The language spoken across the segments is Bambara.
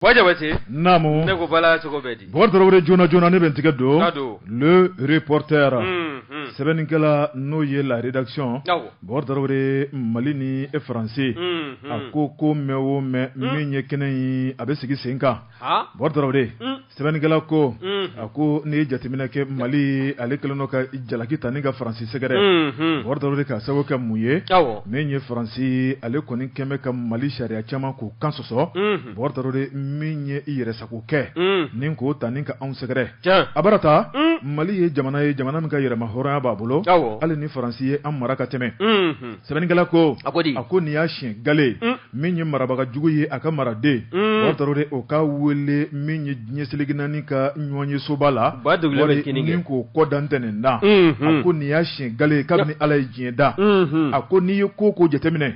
Wa jabate naamu ne ko bala cogo bɛ di bɔkari joona joona ne bɛ n tigɛ don Le Reporter sɛbɛnnikɛla n'o ye la rédaction bɔkari mali ni e faransi a ko ko mɛ o mɛ min ye kɛnɛ in a bɛ sigi sen kan bɔkari sɛbɛnnikɛla ko a ko n'i ye jateminɛ kɛ mali ale kɛlen kɔ ka jalaki ta ni ka faransi sɛgɛrɛ bɔkari ka sababu kɛ mun ye min ye faransi ale kɔni kɛlen bɛ ka mali sariya caman k'u kan sɔ sɔsɔ bɔkari tarawele min ye i yɛrɛ sago kɛ ni k'o ta ni ka anw sɛgɛrɛ a bɛ taa mali ye jamana ye jamana min ka yɛrɛmahɔrɔnya b'a bolo hali ni faransi ye an mara ka tɛmɛ sɛbɛnnikɛla ko a ko n'i y'a siyɛn gale min ye marabaga jugu ye a ka maraden bɔkari tarawele o ka wele min ye diɲɛ seleke naani ka ɲɔgɔnyesoba la k'o kɔ dantɛ nin da a ko n'i y'a siyɛn gale kabini ala ye diɲɛ da a ko n'i ye ko ko jateminɛ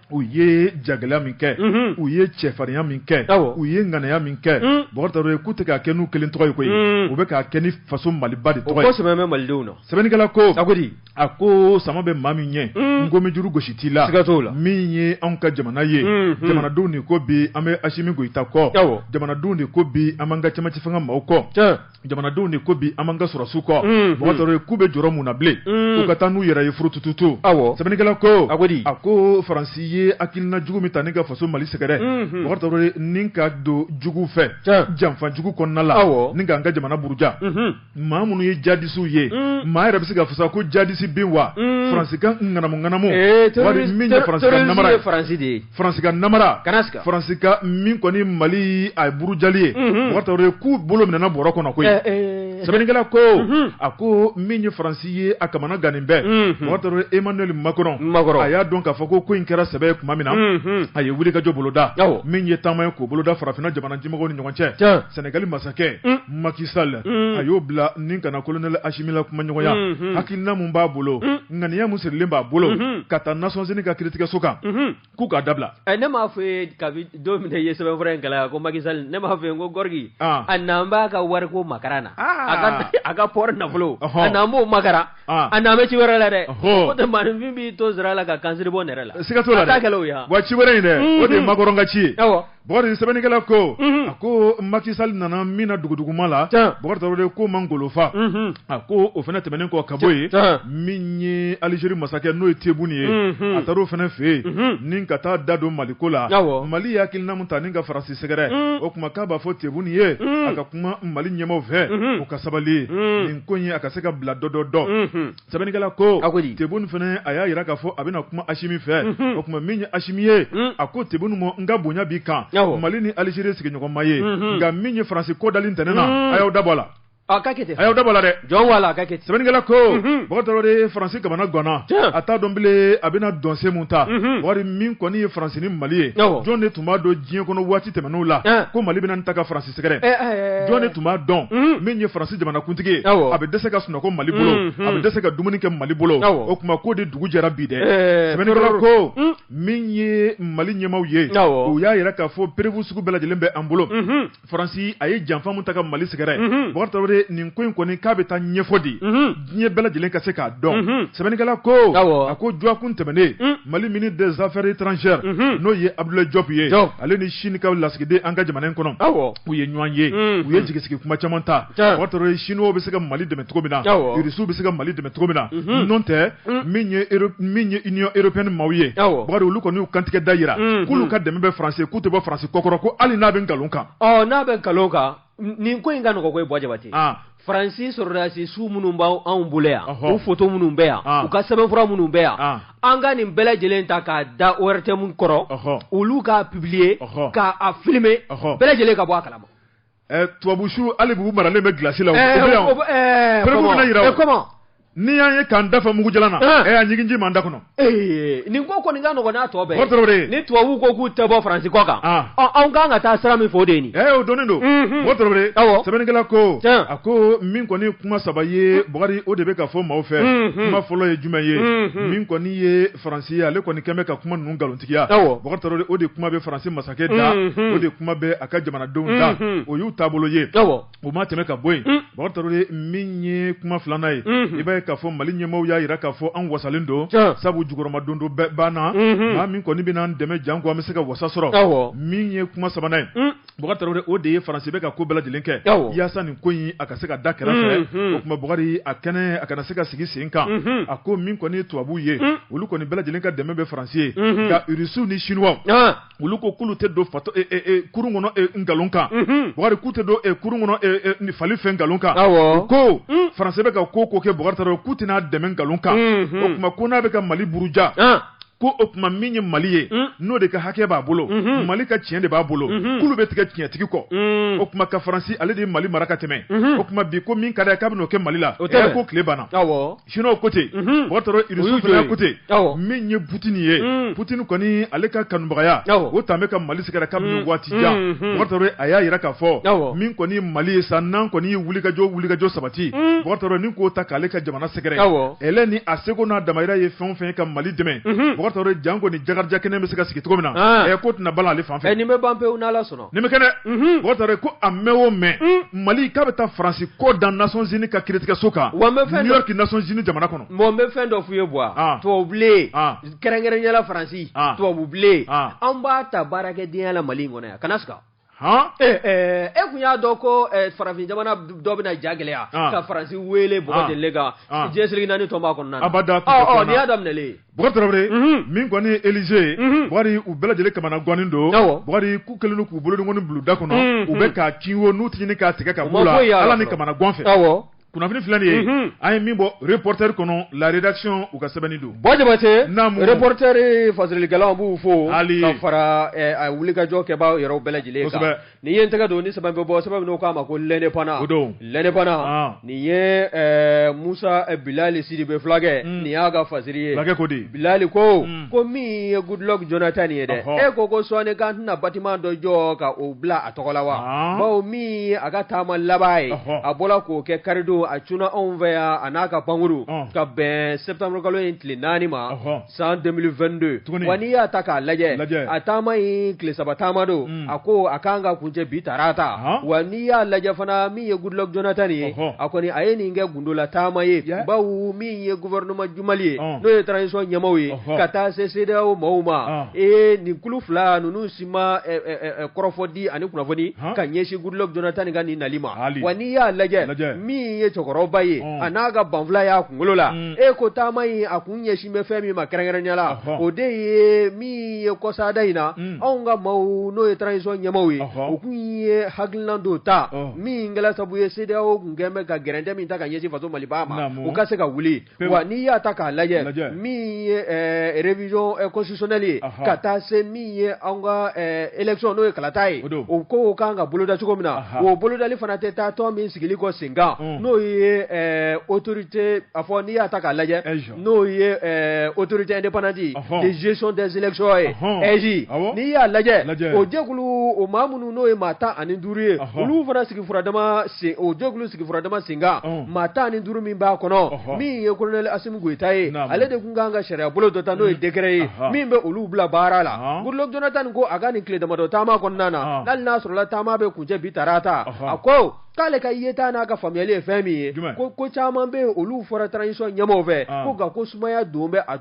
u ye jagɛlɛya min kɛ unhun, u ye cɛfarinya min kɛ Awɔ. u ye ŋanaya min kɛ Mm. Bɔkari Tarawele k'u tɛ k'a kɛ n'u kelen tɔgɔ ye koyi Mm. u bɛ k'a kɛ ni faso Maliba de tɔgɔ ye ko sɛbɛ bɛ malidenw na sɛbɛnnikɛla ko cogo di a ko sama bɛ maa min ɲɛ Mm. nkomi juru gosi t'i la Siga t'o la. min ye anw ka jamana ye Mhm. jamanadenw de ko bi an bɛ Asimi Goyita kɔ Awɔ. jamanadenw de ko bi an b'an ka cɛmancɛ fanga maaw kɔ Tiɲɛ. jamanadenw de ko bi an b'an ka sɔrɔdasiw kɔ bɔkari tarawele k'u bɛ jɔrɔ mun na bilen u ka taa n'u yɛrɛ ye furutututu sɛbɛnnikɛla ko a a ko faransi ye hakilina jugu min ta ni ka faso mali sɛgɛrɛ bɔkari tarawele ni ka don jugu fɛ janfa jugu kɔnɔna la ni ka an ka jamana buruja maa minnu ye jadisiw ye maa yɛrɛ bɛ se k'a fɔ sa ko jadisi bɛ yen wa faransi ka ŋanamu ŋanamu min ye faransi de ye faransi ka namara faransi ka min kɔni mali a ye burujali ye mhm. bɔkari tarawele k'u bolo minɛna bɔrɔ kɔnɔ koyi eh, eh. sɛbɛnnikɛla ko mhm. a ko min ye faransi ye a kamana gannen bɛ mhm. bɔkari tarawele emmanuel makɔrɔn a y'a dɔn k'a fɔ ko ko in kɛra sɛbɛ ye kuma min na a ye wulikajɔ boloda min ye taama ye k'o boloda farafinna jamana damadɔw ni ɲɔgɔn cɛ sɛnɛgali masakɛ mm. Macky Sall mm. a y'o bila ni ka na kolonɛli asimi la kumaɲɔgɔnya hakilina min b'a bolo mm. ŋaniya min sirilen b'a bolo unhun, ka taa Nations Unies ka kiritigɛso kan unhun, k'u k'a dabila ɛ ne m'a fɔ i ye kabi don min na i ye sɛbɛnfura in kalan yan ko Macky Sall ne m'a fɔ i ye n ko Gorgui An. a nanen b'a ka wariko makaran na Aa. a ka a ka port nafolo Ɔhɔn. a nanen b'o makaran An. a nanen bɛ ci wɛrɛ la dɛ Ɔhɔn. o tɛ maaninfin b'i to sira la ka kansiri bɔ nɛrɛ la siga t'o la a t'a kɛlɛ o ye wa? wa ci wɛrɛ in dɛ o de ye makɔrɔn ka ci ye Awɔ. Bɔkari sɛbɛnnikɛla ko a ko Macky Sall nana min na duguduguma la bɔkari tarawele ko man golofa a ko o fana tɛmɛnen kɔ ka bɔ yen min ye alizeri masakɛ n'o ye tebuni ye a taara o fana fɛ yen ni ka taa da don mali ko la mali ye hakilina min ta ni ka faransi sɛgɛrɛ o kuma k'a b'a fɔ tebuni ye a ka kuma mali ɲɛmaaw fɛ u ka sabali nin ko in a ka se ka bila dɔ dɔ dɔn sɛbɛnnikɛla ko a ko di tebun fana a y'a jira k'a fɔ a bɛna kuma asimi fɛ mhm. o tuma min ye asimi ye mhm. a ko tebun ma n ka bonya b'i kan mali ni alizeri sigiɲɔgɔnma ye mhm. nka min ye faransi ko dali ntɛnɛn na a y'aw dabɔ a la a ka kɛ ten a y'aw dabɔ a la dɛ jɔn wala a ka kɛ ten sɛbɛnnikɛla ko bakari tarawele faransi kamanaganna a t'a dɔn bilen a bɛna dɔnsen mun ta bari min kɔni ye faransi ni mali ye jɔn de tun b'a dɔn diɲɛ kɔnɔ waati tɛmɛnenw la ko mali bɛna nin ta ka faransi sɛgɛrɛ eh, eh, eh. jɔn de tun b'a dɔn mm. min ye faransi jamanakuntigi ye a bɛ dɛsɛ ka sunɔgɔ mali bolo mm, mm. a bɛ dɛsɛ ka dumuni kɛ mali bolo o tuma k'o de dugu jɛra bi dɛ sɛbɛnnikɛla ko min ye mali ɲɛmaw ye u y'a yira k'a fɔ preuve sugu bɛɛ lajɛlen bɛ an bolo mm-hmm. faransi a ye janfa min ta ka mali sɛgɛrɛ mm-hmm. bakari tarawele nin ko in kɔni k'a bɛ taa ɲɛfɔ di mm-hmm. diɲɛ bɛɛ lajɛlen ka se k'a dɔn mhm. sɛbɛnnikɛla ko a ko dɔgɔkun tɛmɛnen mm. mali ministre des affaires étrangères mhm. n'o ye abudulayi jɔpu ye ale ni sini ka lasigiden an ka jamana in kɔnɔ u ye ɲɔgɔn ye mhm. u ye jigisigi kuma caman ta bakari tarawele siniw bɛ se ka mali dɛmɛ cogo min na irisiw bɛ se ka mali dɛmɛ cogo min na n'o tɛ mm. min ye min ye union européenne maaw ye bakari olu kɔni y'u kantigɛ da yira k'olu ka dɛmɛ bɛ faransi k'u tɛ bɔ faransi kɔkɔrɔ ko hali n'a bɛ nkalon kan n'a bɛ nkalon kan nin ko in ka nɔgɔ koyi bɔ jabate faransi sɔrɔdasi su minnu b'anw bolo yan u foto minnu bɛ yan u ka sɛbɛnfura minnu bɛ yan an ka nin bɛɛ lajɛlen ta k'a da ORTM kɔrɔ olu k'a publier k'a filime bɛɛ lajɛlen ka bɔ a kalama tubabu su hali bi u maralen bɛ glasi la N'i y'an ye k'an da fa mugu jalan na, an, ee a ɲigin ji b'an da kɔnɔ, ee nin ko kɔni ka nɔgɔn n'a tɔ bɛɛ ye, Bukari Tarawele, ni tubabuw ko k'u tɛ bɔ Faransi kɔ kan, an, ɔ anw ka kan ka taa sira min fɛ o de ye nin ye, ee o dɔnnen don, unhun, Bukari Tarawele, awɔ, sɛbɛnnikɛla ko, tiɲɛ, a ko min kɔni ye kuma saba ye Bukari o de bɛ ka fɔ maaw fɛ, unhun, kuma fɔlɔ ye jumɛn ye, unhun, min kɔni ye Faransi ye ale kɔni kɛlen bɛ ka kuma ninnu nkalontigiya, awɔ, Bukari Tarawele o de kuma bɛ Faransi masakɛ da, unhun, o de kuma bɛ a ka jamanadenw da, unhun, o y'u taabolo ye, awɔ. O ma tɛmɛ ka bɔ yen bakari tarawele min ye kuma filanan ye i b'a ye k'a fɔ mali ɲɛmɔgɔ y'a jira k'a fɔ an wasalen don sabu jukɔrɔmadondon bɛɛ banna maa min kɔni bɛna an dɛmɛ janko an bɛ se ka wasa sɔrɔ min ye kuma sabanan ye bakari tarawele o de ye faransi bɛ ka ko bɛɛ lajɛlen kɛ yaasa nin ko in a ka se ka da kɛrɛfɛ o tuma bakari a kɛnɛ a kana se ka sigi sen kan a ko min kɔni tubabuw ye olu kɔni bɛɛ lajɛlen ka dɛmɛ bɛ faransi ye nka rusiw ni siniwa olu ko k'olu tɛ don fato e, e, e, kurun kɔnɔ e, nkalon kan mhm. Bukari k'u tɛ don e, kurun kɔnɔ e, e, ni fali fɛ nkalon kan awɔ ko mm. faransi bɛ ka ko o ko kɛ Bukari Tarawele k'u tɛn'a dɛmɛ nkalon kan mhm. o tuma ko n'a bɛ ka Mali buruja ah. ko o tuma min ye Mali ye mm. n'o de ka hakɛ b'a bolo mhm. Mali ka tiɲɛ de b'a bolo mhm. k'olu bɛ tigɛ tiɲɛtigi kɔ mm. o tuma ka faransi ale de ye Mali mara ka tɛmɛ o tuma bi ko min ka d'a ye k'a bɛn'o kɛ Mali la o tɛ k'o tile banna awɔ Chinois ko ten, unhun, Bɔkari Russie fana ko ten, awɔ, min ye Poutine ye, un, Poutine kɔni ale ka kanubagaya, awɔ, o tun bɛ ka Mali sɛgɛrɛ kabini waati jan, unhun, Bɔkari a y'a jira k'a fɔ, awɔ, min kɔni ye Mali ye sa n'an kɔni ye wulikajɔ wulikajɔ sabati, un, Bɔkari ni k'o ta k'ale ka jamana sɛgɛrɛ, awɔ, ale ni a seko n'a damayira ye fɛn o fɛn ye ka Mali dɛmɛ, unhun, Bɔkari janko ni jakarijɛ kɛnɛ bɛ se ka sigi cogo min na, an, ɛ k'o tɛna balan ale fan fɛ, ɛ nin bɛ ban pewu n'Ala sɔnna. Nin bɛ kɛ dɛ Bɔkari ko a mɛn o mɛn Mali k'a bɛ taa Faransi ko da Nations Unies ka kiiritigɛso kan New York Nations Unies jamana kɔnɔ n bɛ fɛn dɔ f'i ye Buwa tubabubilen kɛrɛnkɛrɛnya la Faransi tubabubilen an b'a ta baarakɛdenya la Mali in kɔnɔ yan kana siga e tun y'a dɔn ko farafin jamana dɔ bɛna ja gɛlɛya ka Faransi weele kan diɲɛ seleke naani tɔnba kɔnɔ a y'a daminɛ Bɔkari Tarawele, unhun, min kɔni ye Élysée ye, unhun, Bɔkari u bɛɛ lajɛlen kamana gannen don, awɔ, Bɔkari k'u kɛlen don k'u bolonkɔni bila u da kɔnɔ, unhun, u bɛ k'a kin wo n'u tɛ ɲini k'a tigɛ ka bɔ u la, Ala ni kamana gan fɛ, awɔ, kunnafoni filɛ nin ye, unhun, an ye min bɔ Reporter kɔnɔ la rédaction u ka sɛbɛnni don, Buwa Jabatɛ, naamu, Reporter fasirilikɛlaw an b'u fo, hali, ka fara ɛ wulikajɔ kɛbaa yɛrɛw bɛɛ lajɛlen kan, kosɛbɛ Ni ye n tɛgɛ don ni sɛbɛn bɛ bɔ sɛbɛn min n'u k'a ma ko L'Indépendant o don L'Indépendant ɔn nin ye ɛɛ Musa Bilali Sidibe fulakɛ nin y'a ka fasiri ye fulakɛ ko di Bilali ko ko min ye Goodluck Jonathan ye dɛ e ko ko sɔɔnin k'an tɛna bâtiment dɔ jɔ ka o bila a tɔgɔ la wa ɔɔ bawo min ye a ka taama laban ye ɔhɔ a bɔra k'o kɛ karidon a cunna anw fɛ yan a n'a ka pankuru ɔn ka bɛn septembre kalo in tile 4 ma ɔhɔ san 2022 tuguni wa n'i y'a ta k'a lajɛ lajɛ a taama in tile saba taama don mm. a ko a kan ka kuncɛ bi tarata uh -huh. wa n'i y'a lajɛ fana min ye Goodluck Jonathan ye uh -huh. a kɔni a ye nin kɛ gundola taama ye yeah. bawo min ye gouvernement du Mali ye uh -huh. n'o ye transition ɲɛmaaw ye uh -huh. ka taa se CEDEAO maaw ma uh -huh. ee nin kulu fila ninnu si ma eh, eh, eh, kɔrɔfɔ di ani kunnafoni uh -huh. ka ɲɛsin Goodluck Jonathan ka nin nali ma hali. wa n'i y'a lajɛ min ye cɛkɔrɔba ye uh -huh. a n'a ka banfula y'a kunkolo la mm. e ko taama in a kun ɲɛsin bɛ fɛn min ma kɛrɛnkɛrɛnya la o de ye min ye kɔsada in na anw ka maaw n'o ye transition ɲɛmaaw ye u tun ye hakilina dɔ ta min kɛla sabu ye CEDEAO tun kɛlen bɛ ka gɛrɛntɛ min ta ka ɲɛsin faso Maliba ma o ka se ka wuli wa n'i y'a ta k'a lajɛ min ye révision constitutionnelle ye ka taa se ye anw ka élection n'o ye kalata ye, o don, o ko kan ka boloda cogo min na, anhan, o bolodali fana tɛ taa tɔn min sigili kɔ sen kan, un, n'o ye ɛɛ autorité a fɔ n'i y'a ta k'a lajɛ, AIGE, n'o ye ɛɛ autorité indépendante ye, ɔhɔ, de gestion des élections ye, ɔhɔn, AIGE, awɔ, n'i y'a lajɛ, lajɛ, o jɛkulu o maa minnu n'o ye maa tan ani duuru ye, ɔhɔ, olu fana sigi furadama sen o jɛkulu sigi furadama sen kan, un, maa tan ani duuru min b'a kɔnɔ, ɔhɔ, min ye colonel Asim Goïta ye ale de tun kan ka sariya bolo dɔ ta n'o ye décret ye min bɛ olu bila baara la Goodluck Jonathan ko a ka nin tile damadɔ taama kɔnɔna na hali n'a sɔrɔla taama bɛ kuncɛ bi tarata a ko k'ale ka yeta n'a ka faamuyali ye fɛn min ye ko ko caman bɛ yen olu fɔra transition ɲɛmaaw fɛ ko nka ko sumaya dɔ bɛ a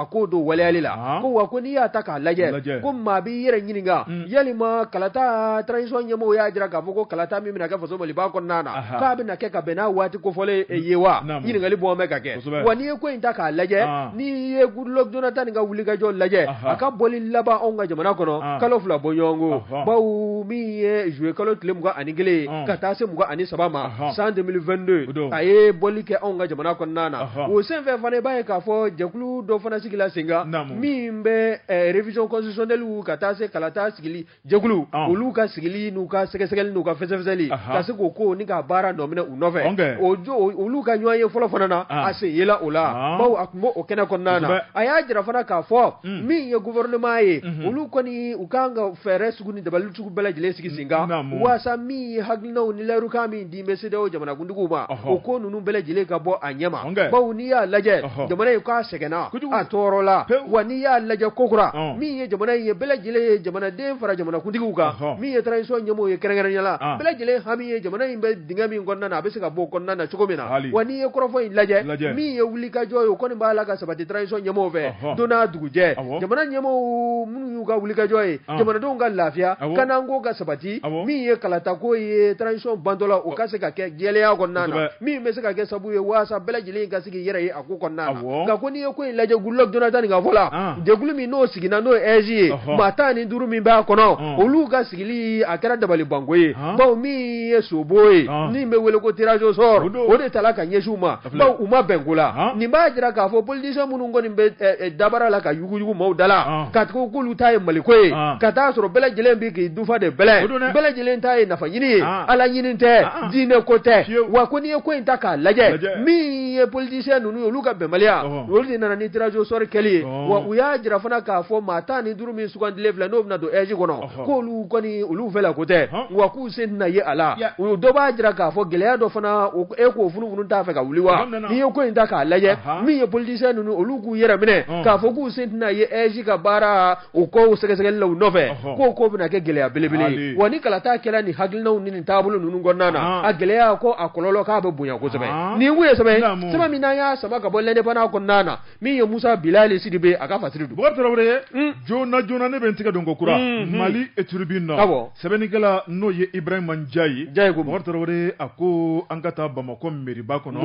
ko dɔ waleyali la ko wa ko n'i y'a ta k'a lajɛ ko maa b'i yɛrɛ ɲininka yalima kalata transition ɲɛmaaw y'a jira k'a fɔ ko kalata min bɛna kɛ faso Maliba kɔnɔna na k'a bɛna kɛ ka bɛn n'a waati kofɔlen ye wa ɲininkaliba bɛ ka kɛ wa n'i ye ko in ta k'a lajɛ n'i ye Goodluck Jonathan nin ka wulikajɔ lajɛ a ka bɔli laban anw ka jamana kɔnɔ kalo fila bɔ ɲɔgɔn ko bawo min ye zuye kalo tile mugan ani kelen ka taa se mugan ani saba ma san 2022 a ye bɔli kɛ anw ka jamana kɔnɔna na o senfɛ fana b'a ye k'a fɔ jɛkulu dɔ fana sigila senkan min bɛ eh, révision constitutionnelle ka taa se kalata sigili jɛkulu ah. olu ka sigili n'u ka sɛgɛsɛgɛli n'u ka fɛsɛfɛsɛli ka se k'o ko ni ka baara nɔ minɛ u nɔfɛ o olu ka ɲɔgɔn ye fɔlɔ fana na ah. a sen yela o la ah. bawo a tun b' o kɛnɛ kɔnɔna na a y'a jira fana k'a fɔ hmm. min ye gouvernement ye mhm. olu kɔni u ka kan ka fɛɛrɛ sugu ni dabali sugu bɛɛ lajɛlen sigi senkan walasa min ye hakilinaw ni layidu min di min bɛ CEDEAO jamanakuntigiw ma, o ko ninnu bɛɛ lajɛlen ka bɔ a ɲɛma, bawo n'i y'a lajɛ, jamana in k'a sɛgɛnna, a tɔɔrɔla, wa n'i y'a lajɛ kokura, min ye jamana in ye bɛɛ lajɛlen ye jamanaden fara jamanakuntigiw kan, min ye transition ɲɛmɔgɔw ye kɛrɛnkɛrɛnnenya la, bɛɛ lajɛlen hami ye jamana in bɛ dingɛ min kɔnɔna na a bɛ se ka bɔ o kɔnɔna na cogo min na, wa n'i ye kɔrɔfɔ in lajɛ, min ye wulikajɔ ye o kɔni b'a la ka sabati transition ɲɛmɔgɔw fɛ, don n'a dugujɛ, jamana ɲɛmɔgɔw minnu y'u ka wulikajɔ ye ah. jamanadenw ka lafiya ah kanako ka sabati ah min ye kalatako ye transition bantɔla o ka se ka kɛ jɛlenya kɔnɔna na min bɛ se ka kɛ sabu ye waasa bɛɛ lajɛlen ka se k'i yɛrɛ ye a ko kɔnɔna na nka ko n'i ye ko in lajɛ Goodluck Jonathan nin ka fɔ la jɛkulu min n'o sigira n'o ye AIGE ye maa tan ni duuru min b'a kɔnɔ olu ka sigili a kɛra dabalibanko ye bawo min ye sobo ye min bɛ wele ko tirage au sort o de tala ka ɲɛsin u ma u ma bɛn ko la nin b'a jira k'a fɔ politisiyɛn minnu kɔni bɛ dabara la ka yuguyugu maaw da la ka k'olu ta ye Mali ko ye ka t'a sɔrɔ bɛɛ lajɛlen bɛ k'i dufa de bɛlɛn bɛɛ lajɛlen ta ye nafa ɲini ye ala ɲini tɛ diinɛ ko tɛ wa ko n'i ye ko in ta k'a lajɛ min ye politisiyɛn ninnu ye olu ka bɛnbaliya olu de nana ni tirage au sort kɛli ye wa u y'a jira fana k'a fɔ maa tan ni duuru min sugandile filɛ n'o bɛna don AIGE kɔnɔ ko olu kɔni olu fɛ la ko tɛ wa k'u sen tɛna ye a la u dɔ b'a jira k'a fɔ gɛlɛya dɔ fana e k'o funufunu t'a fɛ ka wuli wa n'i ye ko in ta k'a lajɛ min ye politisiyɛn ninnu olu k'u yɛrɛ minɛ k'a fɔ k'u sen tɛna ye AIGE ka baara o kɔsɛgɛsɛgɛli la u nɔfɛ k' k'o bɛna kɛ gɛlɛya belebele wa ni kalata kɛra ni hakilinaw ni taabolo ninnu kɔnɔna na a gɛlɛya ko a kɔlɔlɔ k'a bɛ bonya kosɛbɛ nin ye sɛbɛn min y'a sama ka bɔ L'Indépendant kɔnɔna na min ye musa bilali sidibe a ka fasiri don bɔgɔ tarawele joona joona ne bɛ n tɛgɛ don ko kura mali tribune na sɛbɛnnikɛla n'o ye ibrahima njayi ye ko bɔgɔ tarawele a ko an ka taa bamakɔ mɛriba kɔnɔ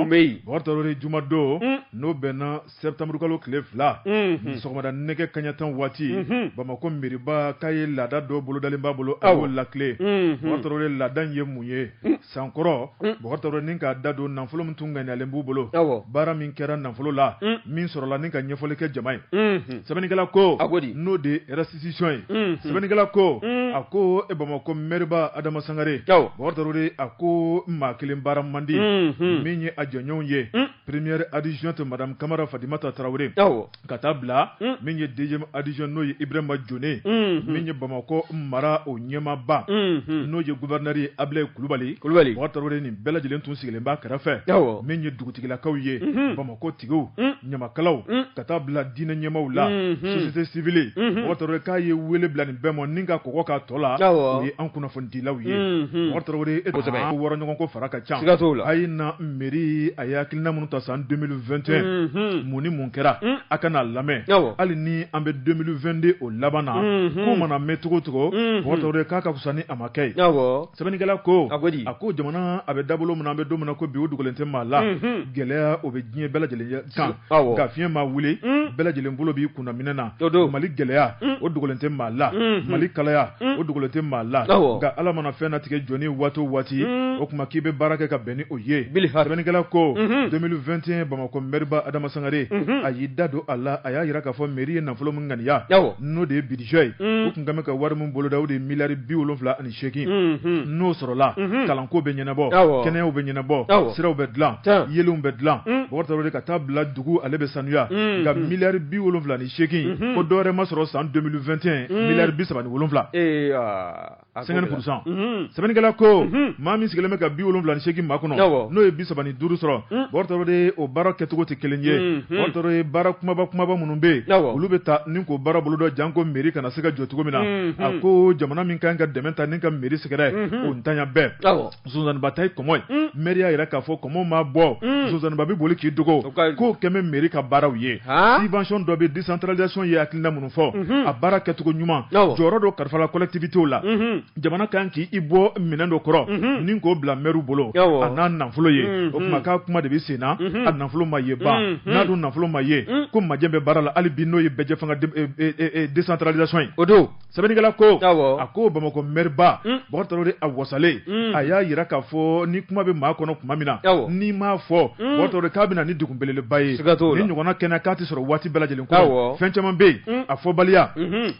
bɔgɔ tarawele jumadon n'o bɛnna sɛtanburukalo tile fila sɔgɔmada nɛgɛ kanɲɛ tan waati bamakɔ mɛriba k'a ye laada dɔ bolodalen b'a bolo a y'o latilen bɔgɔ tarawele laada ye mun ye sankɔrɔ bɔgɔ tarawele ni ka da don nafolo min tun ŋaniyalen b'u bolo baara min kɛra nafolo la min sɔrɔla ni ka ɲɛfɔli kɛ jama ye sɛbɛnnikɛla ko n'o de restitution ye sɛbɛnnikɛla ko a ko e bamakɔ mɛriba adama sangare bɔgɔ tarawele a ko maa kelen baara man di min ye a jɛɲɔgɔnw ye première adjointe madame kamara fatimata tarawele ka taa bila mm. min ye deuxième adjoint n'o ye Ibrahima Jone mm-hmm. min ye Bamakɔ mara o ɲɛmaaba mm-hmm. n'o ye gouverneur ye Abilaye Kulubali Baba Tarawele nin bɛɛ lajɛlen tun sigilen b'a kɛrɛfɛ awɔ min ye dugutigilakaw ye mm-hmm. Bamakɔ tigiw mm. ɲamakalaw mm. ka taa bila diinɛ ɲɛmaaw la société civile Baba Tarawele k'a ye wele bila nin bɛɛ ma ni ka kɔgɔ k'a tɔ la awɔ o ye an kunnafonidilaw ye Baba Tarawele e wɔrɔɲɔgɔnko fara ka ca siga t'o la a ye na mɛri a ye hakilina minnu ta san 2021 mun ni mun kɛra a ka n'a lamɛn hali ni an bɛ 2022 o laban na ko mana mɛn cogo o cogo bɔgɔ tarawele k'a ka fisa ni a ma kɛ ye sɛbɛnnikɛla ko a a ko jamana a bɛ dabolo min na an bɛ don min na ko bi o dogolen tɛ maa la gɛlɛya o bɛ diɲɛ bɛɛ lajɛlen kan nka fiɲɛ ma wuli bɛɛ lajɛlen bolo b'i kunna minɛn na mali gɛlɛya o dogolen tɛ maa la mali kalaya o dogolen tɛ maa la nka ala mana fɛn natigɛ jɔn ye waati o waati o tuma k'i bɛ baara kɛ ka bɛn ni o ye sɛbɛnnikɛla ko 2021 bamakɔ mɛriba adama sangare a y'i da don a la a y'a jira k'a fɔ mɛri ye nafolo min ŋaniya n'o de ye budget ye u tun kan ni ka wari min boloda o de ye miliyari bi wolowula ani segin n'o sɔrɔla kalanko bɛ ɲɛnabɔ kɛnɛyaw bɛ ɲɛnabɔ siraw bɛ dilan yeelenw bɛ dilan bɔgɔ tarawele ka taa bila dugu ale bɛ sanuya nka miliyari bi wolowula ni segin ko dɔwɛrɛ ma sɔrɔ san 2021 miliyari bi saba ni wolowula cinquante pour cent sɛbɛnnikɛla ko maa min sigilen bɛ ka bi wolowula ni segin makɔnɔ n'o ye bi saba ni duuru sɔrɔ bɔgɔ tarawele o baara kɛcogo tɛ kelen ye bɔgɔ tarawele baara kunbaba kunbaba minnu bɛ yen olu bɛ taa ni k'o baara bolodon janko mɛri ka na se ka jɔ cogo min na a ko jamana min kan ka dɛmɛ ta ni ka mɛri sɛgɛrɛ o ntanya bɛɛ sonsanninba ta ye kɔmɔ ye mɛri y'a jira k'a fɔ kɔmɔ ma bɔ sonsanninba bɛ boli k'i dogo k'o kɛmɛ mɛri ka baaraw ye subvention dɔ bɛ décentralisation ye hakilina minnu fɔ a baara kɛcogo ɲuman jɔyɔrɔ dɔ kalifala collectivitéw la jamana ka kan k'i bɔ minɛn dɔ kɔrɔ mhm. ni k'o bila mɛriw bolo a n'a nafolo ye mhm. o tuma k'a kuma de bɛ sen na mhm. a nafolo ma ye ban n'a dun nafolo ma ye ko majɛ bɛ baara la hali bi n'o ye bɛɛjɛ fanga desantaralisasɔn ye o don sɛbɛnnikɛla ko a ko bamakɔ mɛriba Bugari Tarawele a wasalen a y'a jira k'a fɔ ni kuma bɛ maa kɔnɔ tuma min na n'i m'a fɔ Bugari Tarawele k'a bɛ na ni degun belebeleba ye nin ɲɔgɔnna kɛnɛ k'a tɛ sɔrɔ waati bɛɛ lajɛlen ko fɛn caman bɛ yen a fɔbaliya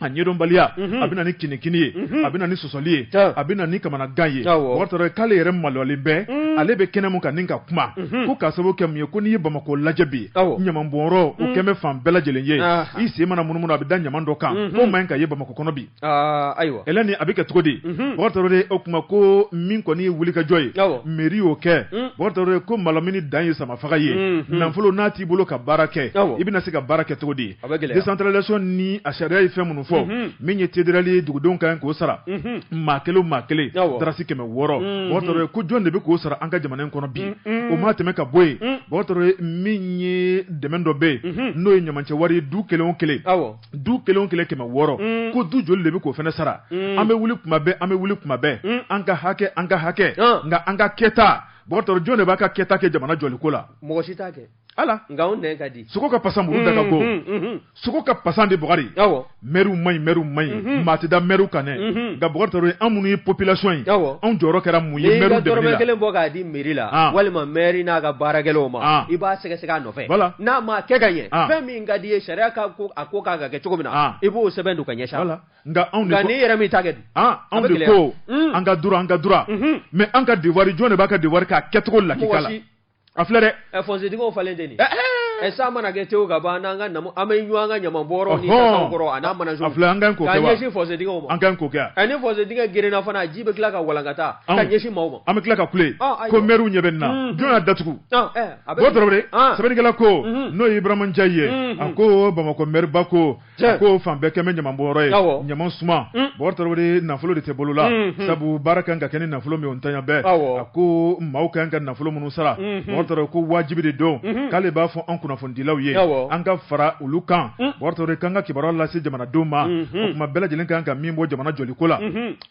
a ɲɛdɔnbaliya a bɛ na ni kini ye a bɛ na ni sɔsɔli ye a bɛ na ni kamanagan ye o k'ale yɛrɛ maloyalen bɛ ale bɛ kɛnɛ min kan nin ka kuma ko k'a sababu kɛ mun ye ko n'i ye Bamakɔ lajɛ bi ɲamanbɔnyɔrɔ o kɛlen bɛ fan bɛɛ lajɛlen ye i sen mana munumunu a bɛ da ɲaman dɔ kan k'o man kan ka ye Bamakɔ kɔnɔ bi ayiwa Hɛlɛni a bɛ kɛ cogo di Bugari Tarawele o tuma ko min kɔni ye wulikajɔ ye mairie y'o kɛ Bugari Tarawele ko malamini dan ye samafaga ye nafolo n'a t'i bolo ka baara kɛ i bɛna se ka baara kɛ cogo di. A bɛ gɛlɛya décentralisation ni a sariya ye fɛn minnu fɔ, unhun, min ye TDRL ye dugudenw ka kan k'o sara, unhun, maa kelen o maa kelen, awɔ, dalasi kɛmɛ wɔɔrɔ, unhun, Bugari Tarawele ko jɔn de bɛ k'o sara an ka jamana in kɔnɔ bi, un-un, o mana tɛmɛ ka bɔ yen, un, Bugari Tarawele min ye dɛmɛ dɔ bɛ yen, unhun, n'o ye ɲamacɛ wari ye du kelen o kelen, awɔ, du kelen o kelen kɛmɛ wɔɔrɔ, un, ko du joli de bɛ k'o fana sara, un, an bɛ wuli tuma bɛɛ an bɛ wuli tuma bɛɛ, un, an ka hakɛ an ka hakɛ, an, nka an ka kɛta Bugari Tarawele jɔn de b'a ka kɛta kɛ jamana jɔliko la, mɔgɔ si t'a kɛ ala nka anw nɛn ka di sogo ka pasa muru da ka go sogo ka pasa dɛ Bugari awɔ mɛriw man ɲi mɛriw man ɲi maa tɛ da mɛriw kan dɛ nka Bugari Tarawele an minnu ye population ye awɔ anw jɔyɔrɔ kɛra mun ye n'i ka mɛriw dɛmɛli dɔrɔmɛ la kelen bɔ k'a di mɛri la Ah. walima mɛri n'a ka baarakɛlaw ma Ah. i b'a sɛgɛsɛgɛ a nɔfɛ Voilà. n'a ma kɛ ka ɲɛ Ah. fɛn min ka di i ye sariya ka ko a ko ka kan ka kɛ cogo min na Ah. i b'o sɛbɛn don ka ɲɛsin a ma. wala nka anw de nka ko n'i yɛrɛ min t'a kɛ dun an A anw bɛ de gɛlɛya. ko Mm. an ka droit an ka droit Mhm. mais an ka devoir jɔn de b'a ka devoir k'a kɛcogo lakika mɔgɔ la si a filɛ dɛ ɛ fɔnsedingɛw falen de nin ɛ ɛ san mana kɛ tewu ka ban n'an ka namu an bɛ ɲɔgɔn an ka ɲaman bɔrɔ ni kan kɔrɔ a n'a mana a filɛ an ka k'o kɛ wa ka ɲɛsin fɔnsedingɛw ma an ka k'o kɛ ɛ ni fɔnsedingɛ gerenna fana ji bɛ tila ka walankata ka ɲɛsin maaw ma an bɛ tila ka kule ko mɛriw ɲɛ bɛ nin na jɔn y'a datugu Bugari Tarawele sɛbɛnnikɛla ko n'o ye Iburahima Njayi ye a ko Bamakɔ mɛriba ko ko fan bɛɛ kɛlen bɛ ɲamanbɔnyɔrɔ ye ɲaman suma Bugari Tarawele nafolo de tɛ bolo la sabu baara ka kan ka kɛ ni nafolo min ye o ntanya bɛ a ko maaw ka kan ka nafolo minnu sara Bugari Tarawele ko wajibi de don k'ale b'a fɔ an kunnafonidilaw ye an ka fara olu kan Bugari Tarawele k'an ka kibaruya lase jamanadenw ma tuma bɛɛ lajɛlen an ka kan ka min bɔ jamana jɔli ko la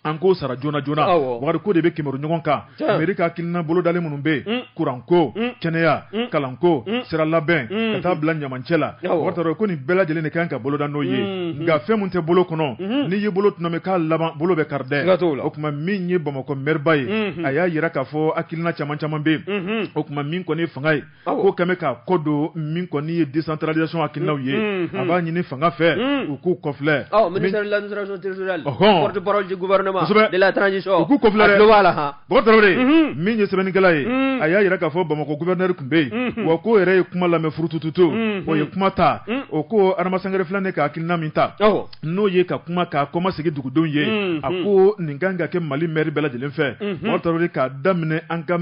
an k'o sara joona joona wari ko de bɛ k'i mɛru ɲɔgɔn kan mɛri ka hakilina bolodalen minnu bɛ yen kuranko kɛnɛya kalanko sira labɛn ka taa bila ɲamacɛ la Bugari Tarawele ko nin bɛɛ lajɛlen de ka kan ka boloda n'o ye nka fɛn min tɛ bolo kɔnɔ n'i y'i bolo tɔnɔmi k'a laban bolo bɛ kari dɛ o tuma min ye bamakɔ mɛriba ye a y'a jira k'a fɔ hakilina caman caman bɛ yen o tuma min kɔni fanga ye ko kɛmɛ ka kɔ don min kɔni ye décentralisation hakilinaw ye a b'a ɲini fanga fɛ u k'u kɔfilɛ ministère de l'administration territoriale porte parole du gouvernement de la transition u k'u kɔfilɛ dɛ a tulo b'a la han Bɔkari Tarawele min ye sɛbɛnnikɛla ye a y'a jira k'a fɔ Bamakɔ gouverneur tun bɛ yen wa k'o yɛrɛ ye kuma lamɛn furutututu o ye kuma ta o ko Adama Sangare filɛ nin ka hakilina min ta. n'o ye ka kuma k'a kɔmasegin dugudenw ye a ko nin kan ka kɛ mali maire bɛɛ lajɛlen fɛ bɔkari tarawele k'a daminɛ an ka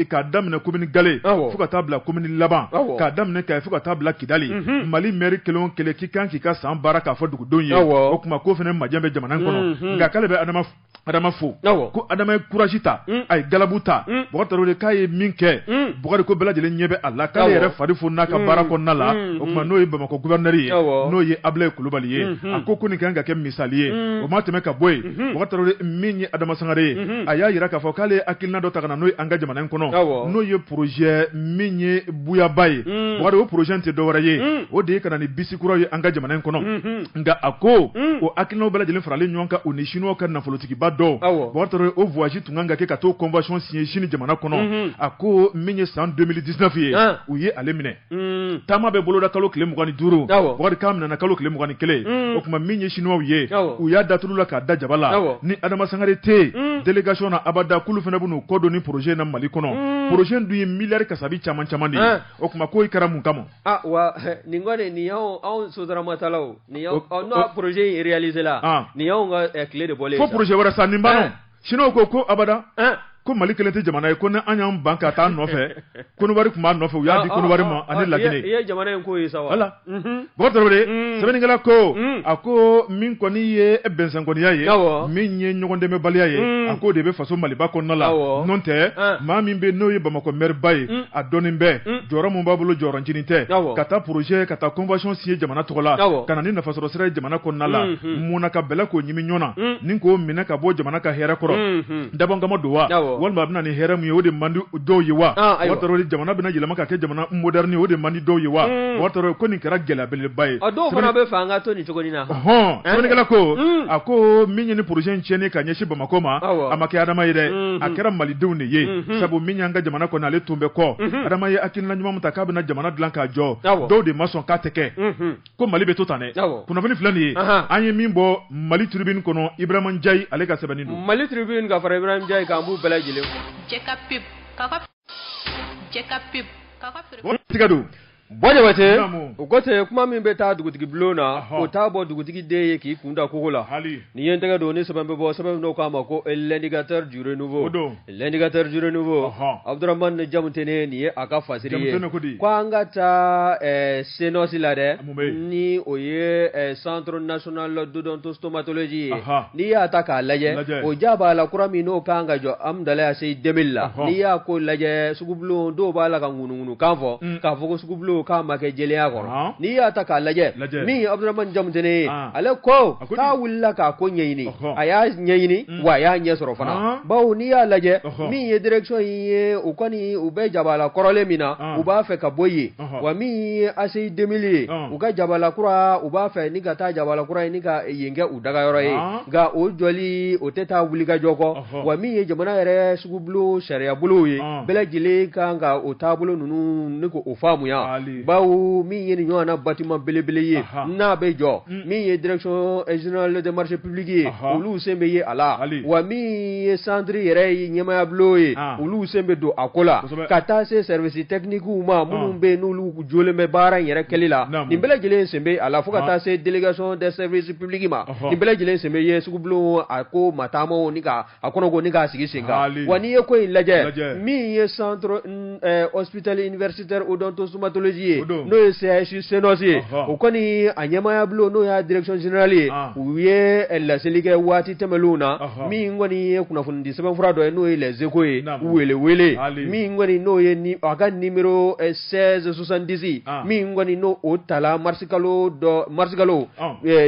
k'a daminɛ commune galen fo ka taa bila commune laban k'a daminɛ kayi fo ka taa bila kidali mali maire kelen o kelen k'i kan k'i ka san baara k'a fɔ dugudenw ye o tuma ko fana majɛ bɛ jamana kɔnɔ nka k'ale bɛ adama adama fo ko adama ye courage ta mm. a ye galabu ta mm. bɔkari tarawele k'a ye min kɛ mm. bɔkari ko bɛɛ lajɛlen ɲɛ bɛ a la k'ale yɛrɛ fari fo n'a ka baara kɔnɔna la o tuma n'o ye bamakɔ gouverneur ye n'o ye abulayi kulubali ye mm-hmm. a ko ko nin kan ka kɛ misali ye o ma tɛmɛ ka bɔ yen mm-hmm. bɔkari tarawele min ye adama sangare ye mm-hmm. a y'a jira k'a fɔ k'ale ye hakilina dɔ ta ka na n'o ye an ka jamana in kɔnɔ n'o ye projet min ye buyaba ye bɔkari o projet tɛ dɔwɛrɛ ye o de ye ka na ni bisi kuraw ye an ka jamana in kɔnɔ nka a ko mm. o hakilinaw bɛɛ lajɛlen faralen ɲɔgɔn kan u ni siniwaw ka nafolotigiba dɔw bɔkari tarawele o voyage tun kan ka kɛ ka t'o convention signer sini jamana kɔnɔ mm-hmm. a ko min ye san 2019 ye ah. u ye ale minɛ mm. taama bɛ boloda kalo tile mugan ni duuru bɔkari k'a minɛna kalo tile mugan ni kelen mm. o tuma min ye siniwaw ye u y'a da tulu la k'a da jaba la ni adama sangare tɛ yen délégation na abada k'olu fana bɛ n'u kɔ don ni projet in na mali kɔnɔ projet in dun ye miliyari kasabi caman caman de ye ah. o tuma k'o kɛra mun kama Aa wa nin kɔni nin anw sotramatalaw nin n'aw projet réalisé la nin y'an ka tile de bɔ fo projet wɛrɛ san ni ba siniwaw ko ko abada ko mali kelen tɛ jamana ye ko ni an y'an ban ka taa nɔfɛ kɔnɔwari tun b'a nɔfɛ u y'a di kɔnɔwari ma ani laginɛ jamana in ko sa voilà bɔkari tarawele sɛbɛnnikɛla ko a ko min kɔni ye bɛnsenkɔniya ye min ye ɲɔgɔn dɛmɛbaliya ye a ko de bɛ faso maliba kɔnɔna la n'o tɛ maa min bɛ n'o ye bamakɔ maire ba ye a dɔnnen bɛ mm. jɔyɔrɔ min b'a bolo jɔyɔrɔncinin tɛ ka taa projet ka taa convention signer jamana tɔgɔ la ka na ni nafasɔrɔ sira ye jamana kɔnɔna la mm-hmm. mun na ka bɛlɛ k'o ɲimi ɲɔ na mm. ni k'o minɛ ka bɔ jamana ka hɛrɛ kɔrɔ mm-hmm. dabɔnkama don wa walima a bɛna ni hɛrɛ min ye o de man di dɔw ye wa bɔkari tarawele jamana bɛna yɛlɛma ka kɛ jamana moderne o de man di dɔw ye wa bɔkari tarawele ko nin kɛra gɛlɛya belebeleba ye dɔw fana b'a fɛ an ka to nin cogo in na sɛbɛnnikɛla ko a ko min ye nin projet in tiɲɛni ka ɲɛsin bamakɔ ma a ma kɛ adama ye dɛ a kɛra malidenw de ye sabu min y'an ka jamana kɔnɔ ale tun bɛ kɔ adama ye hakilina ɲuman min ta k'a bɛna jamana dilan k'a jɔ dɔw de ma sɔn k'a tɛ kɛ ko mali bɛ to tan dɛ kunnafoni filɛ nin ye an ye min bɔ mali tribune kɔnɔ ibrahima ndiaye ale ka sɛbɛnni don mali tribune ka fara ibrahima ndiaye kan b'u bɛɛ lajɛlen Tiga don Bɔ Jabatɛ o ko ten kuma min bɛ taa dugutigi bulon na o t'a bɔ dugutigi den ye k'i kun da kogo la ni ye tɛgɛ don ni sɛbɛn bɛ bɔ sɛbɛn dɔ u k'a ma ko L'Indicateur du Renouveau don L'Indicateur du Renouveau Abudramani Jamutene nin ye a ka fasiri ye ko an ka taa CNOS la dɛ ni o ye eh, centre national d'odontostomatologie ye n'i y'a ta k'a lajɛ o jabala kura min n'o kan ka jɔ Amudalayi Aseyi Demili la n'i y'a ko lajɛ sugubulon dɔw b'a la ka ŋunuŋunukan fɔ mm. k'a fɔ ko sugubulon k'a ma kɛ jɛlenya kɔnɔ n'i y'a ta k'a lajɛ min ye Abudramani Jamutene ye ale ko k'a wulila k'a ko ɲɛɲini a y'a ɲɛɲini mm. wa a y'a ɲɛ sɔrɔ fana bawo n'i y'a lajɛ min ye direction in ye u kɔni u bɛ jabala kɔrɔlen min na u b'a fɛ ka bɔ yen wa min ye Aseyi Demili ye u ka jabala kura u b'a fɛ ni ka taa jabala kura ye ni ka yen kɛ u dagayɔrɔ ye nka o jɔli o tɛ taa wulikajɔ kɔ wa min ye jamana yɛrɛ sugubulon sariya bolo ye bɛɛ lajɛlen kan ka o taabolo ninnu ni k'o faamuya bawo min ye nin ɲɔgɔn na bâtiment belebele ye n'a bɛ jɔ min ye direction générale ye olu sen bɛ ye a la wa min ye centre yɛrɛ ye ɲɛmaya bulon ye olu sen bɛ don a ko la ka taa se services techniques ma minnu bɛ n'olu jɔlen bɛ baara in yɛrɛ kɛli la nin bɛɛ lajɛlen sen bɛ a la fo ka taa se délégation des services publics ma nin bɛɛ lajɛlen sen bɛ ye sugubulon a ko mataamaw ni a kɔnɔ ko ni k'a sigi sen kan wa n'i ye ko in lajɛ min ye centre hospitalier universitaire odontostomatologie ye n'o ye CHU CNOS ye o kɔni a ɲɛmaya bulon n'o y'a direction générale ye u ye laseli kɛ waati tɛmɛnenw na min kɔni ye kunnafoni di sɛbɛnfura dɔ ye n'o ye Les Échos ye welewele min kɔni n'o ye a ka ni 1670 min kɔni n'o o tala marisikalo dɔ marisikalo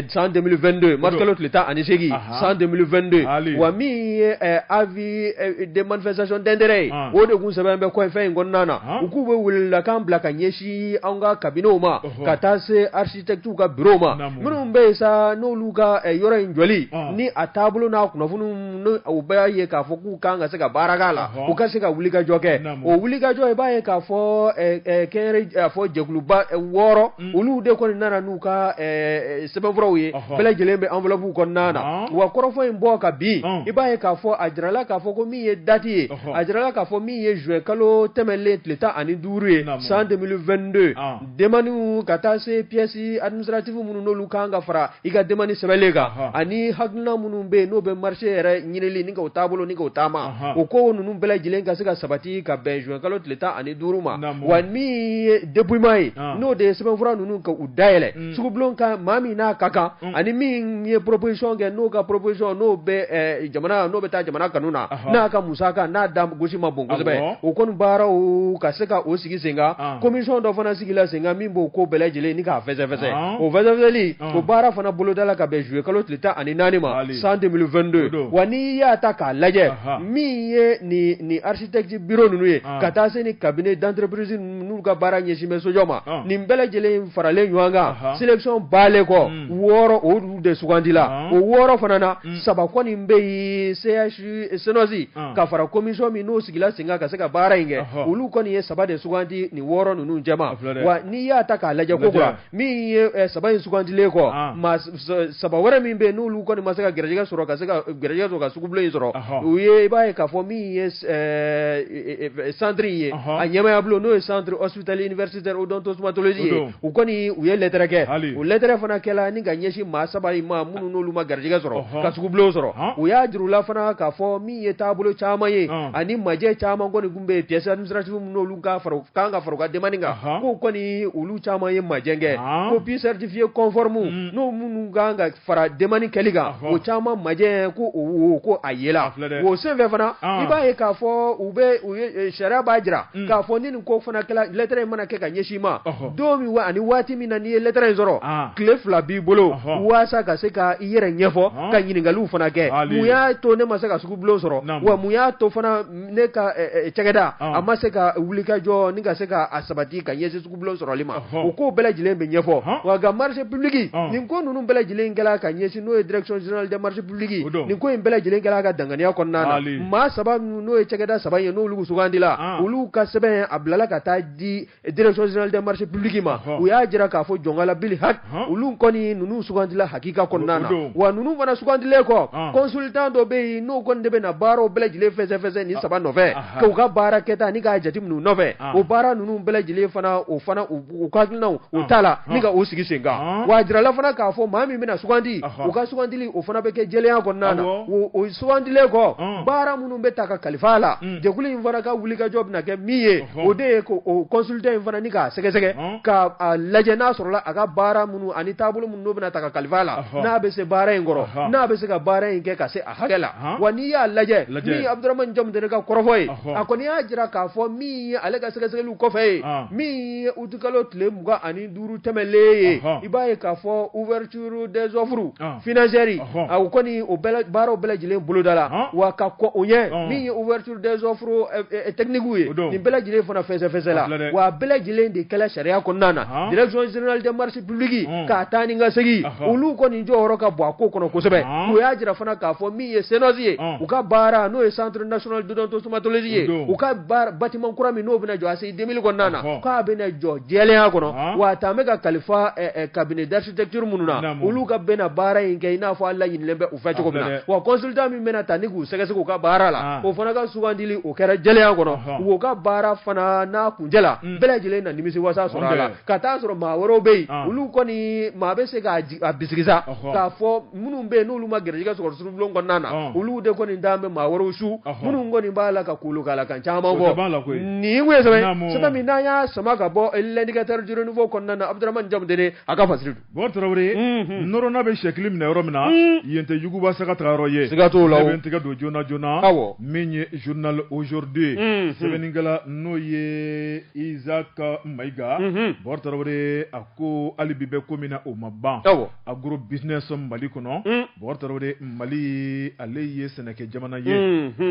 san 2022 marisikalo tile tan ani seegin san 2022 wa min ye avis de manifestation d'intérêt ye o de tun sɛbɛn bɛ fɛn in kɔnɔna na u k'u bɛ welelakan bila ka ɲɛsin an ka kabinɛw ma ka taa se architectes ka bureau ma, naamu, minnu bɛ yen sa n'olu ka ɛ yɔrɔ in jɔli, ɔn, ni a taabolo n'a kunnafoni ninnu i b'a ye k'a fɔ k'u kan ka se ka baara k'a la, ɔhɔ, u ka se ka wulikajɔ kɛ, naamu, o wulikajɔ i b'a ye k'a fɔ ɛ ɛ kɛnyɛrɛ a fɔ jɛkuluba ɛ wɔɔrɔ, un, olu de kɔni nana n'u ka ɛ ɛ sɛbɛnfuraw ye, ɔhɔ, bɛɛ lajɛlen bɛ enveloppe kɔnɔna na, ɔn, wa kɔrɔfɔ in bɔ ka bin, ɔn, i b'a ye k'a fɔ a jirala k'a fɔ ko min ye date ye, ɔhɔ, a jirala k'a fɔ min ye juin kalo tɛmɛnen tile tan ani duuru ye, naamu, san 2022 ɔn. demandew ka taa se pièces administratives minnu n'olu kan ka fara i ka demande sɛbɛnlen kan ani hakilina minnu bɛ yen n'o bɛ marché yɛrɛ ɲinili ni k'o taabolo ni k'o taama o ko ninnu bɛɛ lajɛlen ka se ka sabati ka bɛn juin kalo tile tan ani duuru ma wa min ye dépouillement ye n'o de ye sɛbɛnfura ninnu ka u dayɛlɛ sugubulon ka maa min n'a ka kan ani min ye proposition kɛ n'o ka proposition n'o bɛ jamana n'o bɛ taa jamana kanu na n'a ka musaka n'a da gosi ma bon kosɛbɛ o kɔni baaraw ka se ka o sigi sen kan commission dɔ fana sigila sen kan min b'o ko bɛɛ lajɛlen ni k'a fɛsɛfɛsɛ o fɛsɛfɛsɛli o baara fana bolodala ka bɛn zuye kalo tile tan ani naani ma san deux mille vingt-deux wa n'i y'a ta k'a lajɛ min ye nin architecte bureau ninnu ye ka taa se ni cabinet d'entreprise n'u ka baara ɲɛsin bɛ sojɔ ma nin bɛɛ lajɛlen faralen ɲɔgɔn kan sélection balen kɔ wɔɔrɔ olu de sugandila o wɔɔrɔ fana na saba kɔni bɛ yen CHU CNOS ka fara commission min n'o sigila sen kan ka se ka baara in kɛ olu kɔni ye saba de sugandi nin wɔɔrɔ ninnu cɛma wa n'i y'a ta k'a lajɛ ko min ye eh, saba in sugandilen kɔ ah. maa saba wɛrɛ min bɛ yen n'olu kɔni ma se ka gɛrɛjɛgɛ sɔrɔ ka se ka gɛrɛjɛgɛ sɔrɔ ka sugubulon in sɔrɔ u ye i b'a ye k'a fɔ min ye eh, centre in ye a ɲɛmaaya bulon n'o ye centre hospitalier universitaire odontostomatologie ye u kɔni u ye lɛtɛrɛ kɛ o lɛtɛrɛ fana kɛla ni ka ɲɛsin maa saba in ma minnu n'olu ma gɛrɛjɛgɛ sɔrɔ ka sugubulon sɔrɔ u y'a jir'u la fana k'a fɔ min ye taabolo caman ye ani majɛ caman kɔni bɛ pièce administrative minnu n'olu kan ka fara demande kan ko kɔni olu caman ye majɛ kɛ copie certifiée conforme n'o minnu kan ka fara demande kɛli kan o caman majɛ ko ko a yela o senfɛ fana i b'a ye k'a fɔ u bɛ sariya b'a jira k'a fɔ ni nin ko fana kɛla lɛtɛrɛ in mana kɛ ka ɲɛsin ma don min wa ani waati min na n'i ye lɛtɛrɛ in sɔrɔ tile fila b'i bolo walasa ka se ka i yɛrɛ ɲɛfɔ ka ɲininkaliw fana kɛ mun y'a to ne ma se ka sugubulon sɔrɔ wa mun y'a to fana ne ka cɛkɛda a ma se ka wuli ka jɔ ni ka se k'a sabati ka ɲɛsin sugubulon sɔrɔli ma o ko bɛɛ lajɛlen bɛ ɲɛfɔ wa a ka marché public nin ko ninnu bɛɛ lajɛlen kɛla ka ɲɛsin n'o ye direction générale des marchés publics nin ko in bɛɛ lajɛlen kɛla a ka danganiya kɔnɔna na maa saba n'o ye cɛkɛda saba ye n'olu sugandila olu ka sɛbɛn a bilala ka taa di direction générale des marchés publics ma u y'a jira k'a fɔ jɔnkalabili ha olu kɔni ninnu sugandila hakika kɔnɔna na wa ninnu fana sugandilen kɔ consultant dɔ bɛ yen n'o kɔni de bɛna na baaraw bɛɛ lajɛlen fɛsɛfɛsɛ nin saba nɔfɛ k'u ka baara kɛta ni k'a jateminɛ nɔfɛ o baara ninnu bɛɛ lajɛlen fana o fana u ka hakilina o tala ni ka o sigi sen kan wa a jirala fana k'a fɔ maa min bɛna sugandi u ka sugandili o fana bɛ kɛ jɛlenya kɔnɔna na o sugandilen kɔ baara minnu minnu bɛ ta ka kalifa a la jɛkulu in fana ka wulikajɔ bɛna kɛ min ye o de ye consultant in fana ni k'a sɛgɛsɛgɛ k'a lajɛ n'a sɔrɔla a ka baara minnu ani taabolo minnu n'o bɛna ta ka kalifa a la n'a bɛ se baara in kɔrɔ n'a bɛ se ka baara in kɛ ka se a hakɛ la wa n'i y'a lajɛ min Abuduramani Jamutɛnɛ ka kɔrɔfɔ ye a kɔni y'a jira k'a fɔ min ye ale ka sɛgɛsɛgɛli kɔfɛ ye min ye utikalo tile mugan ani duuru tɛmɛlen ye i b'a ye k'a fɔ ture des offres financières o kɔni o baaraw bɛɛ lajɛlen bolodala wa ka kɔn o ɲɛ min ye ouverture des offres techniques ye nin bɛɛ lajɛlen fana fɛsɛfɛsɛla wa a bɛɛ lajɛlen de kɛla sariya kɔnɔna na direction générale des marchés publics ka taa ni ka segin olu kɔni jɔyɔrɔ ka bon a ko kɔnɔ kosɛbɛ u y'a jira fana k'a fɔ min ye CNOS ye u ka baara n'o ye centre national d'odontostomatologie ye u ka bâtiment kura min n'o bɛna jɔ ACI 2000 kɔnɔna na Ɔhɔ. k'a bɛna jɔ jɛlenya kɔnɔ Ɔhɔ. wa a taalen bɛ ka kalifa ɛ, ɛ, cabinet d'architecture minnu na Naamu. olu ka bɛna baara in kɛ i n'a fɔ a laɲinilen bɛ u fɛ cogo min A na filɛ dɛ. wa consultant min bɛna ta ni k'u sɛgɛsɛgɛ u ka baara la Ah. o fana ka sugandili o kɛra jɛlenya kɔnɔ Ɔhɔ. u ka baara fana n'a kuncɛla Mm. bɛɛ lajɛlen na nimisiwasa sɔrɔ a la Ɔnbɛ. ka taa sɔrɔ maa wɛrɛw bɛ yen Ah. olu kɔni maa bɛ se k'a ji- a bisigi sa Ɔhɔ. k'a fɔ minnu bɛ yen n'olu ma garijɛgɛ sɔrɔ sugubulon kɔnɔna na olu de kɔni d'a bɛ maa wɛrɛw su minnu kɔni b'a la ka kulu k'a la ka caman bɔ nin sɛbɛn min n'an y'a sama ka bɔ l'indicateur du renouveau kɔnɔna na abduramani jamutɛnɛ ka fasiri bɔkari tarawele nɔrɔna bɛ sɛkili minɛ yɔrɔ min na yen tɛ yuguba saga taga yɔrɔ ye siga t'o la bɛ tigɛ don joona joonana aw min ye journal aujourd'hui sɛbɛnnikɛla n'o ye Isaac Maïga bɔkari tarawele a ko hali bi bɛ ko min na o ma ban agro business mali kɔnɔ bɔkari tarawele mali ale ye sɛnɛkɛ jamana ye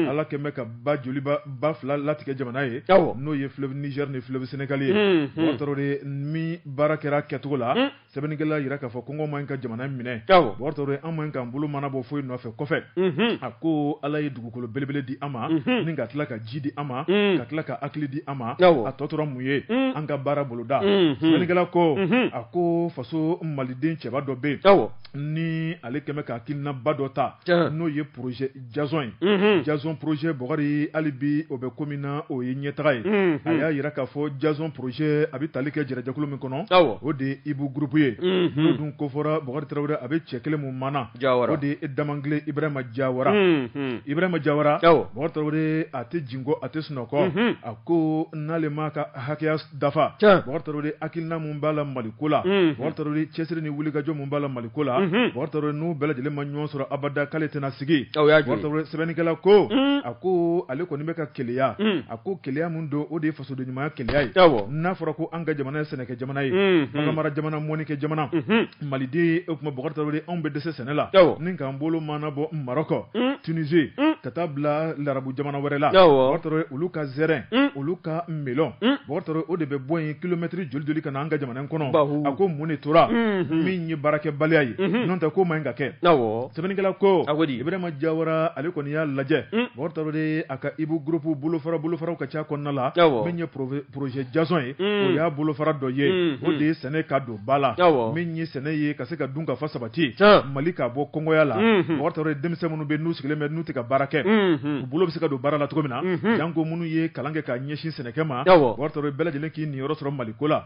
ala kɛlen bɛ ka ba joli ba fila latigɛ jamana ye n'o ye fleuve Niger ni fleuve Sénégal ye bɔkari tarawele ni baara kɛra kɛcogo la sɛbɛnnikɛla y'a jira k'a fɔ kɔngɔ man ɲi ka jamana minɛ bɔkari tarawele an man ɲi k'an bolo mana bɔ foyi nɔfɛ kɔfɛ a ko ala ye dugu dugukolo belebele di an ma ni ka tila ka ji di an ma ka tila ka hakili di an ma a tɔ tora mun ye an ka baara boloda sɛbɛnnikɛla ko a ko faso maliden cɛba dɔ bɛ yen ni ale kɛlen bɛ ka hakilinaba dɔ ta n'o ye projet jazɔn ye jazɔn projet bɔkari hali bi o bɛ ko min na o ye ɲɛtaga ye a y'a jira k'a fɔ jazɔn projet a bɛ tali kɛ jɛrɛjɛkulu min kɔnɔ o de ye IBI groupe ye n'o dun kofɔra bɔkari tarawele a bɛ cɛ kelen min mana Jawara o de ye Damangile Ibrahima Jawara unhun Ibrahima Jawara awɔ Bɔkari Tarawele a tɛ jingɔ a tɛ sunɔgɔ unhun a ko n'ale m'a ka hakɛya dafa tiɲɛ Bɔkari Tarawele hakilina min b'a la Mali ko la unhun Bɔkari Tarawele cɛsiri ni wulikajɔ min b'a la Mali ko la unhun Bɔkari Tarawele n'u bɛɛ lajɛlen ma ɲɔgɔn sɔrɔ abada k'ale tɛna sigi o y'a jɔ ye Bɔkari Tarawele sɛbɛnnikɛla ko un a ko ale kɔni bɛ ka keleya un a ko keleya min don o de ye fasoden ɲumanya keleya ye awɔ n'a fɔra ko an ka jamana ye sɛnɛkɛ jamana ye Unhun. bagan mara jamana mɔnikɛ jamana Mhm. maliden o tuma bɔkari tarawele anw bɛ dɛsɛ sɛnɛ la Awɔ. ni k'an bolo mana bɔ maroc Mm. tunisie Mm. ka taa bila larabu jamana wɛrɛ la Awɔ. bɔkari tarawele olu ka zɛrɛn Mm. olu ka melon Mm. bɔkari tarawele o de bɛ bɔ yen kilomɛtiri joli joli ka na an ka jamana in kɔnɔ Bahu. a ko mun de tora Mhm. min ye baarakɛbaliya ye Mhm. n'o tɛ k'o man ɲi ka kɛ awɔ sɛbɛnnikɛla ko A ko di? ibirahima jawara ale kɔni y'a lajɛ Mm. bɔkari tarawele ka ibi groupe bolofara bolofaraw ka ca kɔnɔna la min ye projet jason ye o y'a bolofara dɔ ye o de ye sɛnɛ ka don ba la min ye sɛnɛ ye ka se ka dunkafa sabati mali k'a bɔ kɔngɔya la bɔgɔri tarawele denmisɛn minnu bɛ n'u sigilen bɛ n'u tɛ ka baara kɛ u bolo bɛ se ka don baara la cogo min na janko minnu ye kalan kɛ ka ɲɛsin sɛnɛkɛ ma bɔgɔri tarawele bɛɛ lajɛlen k'i niyɔrɔ sɔrɔ mali ko la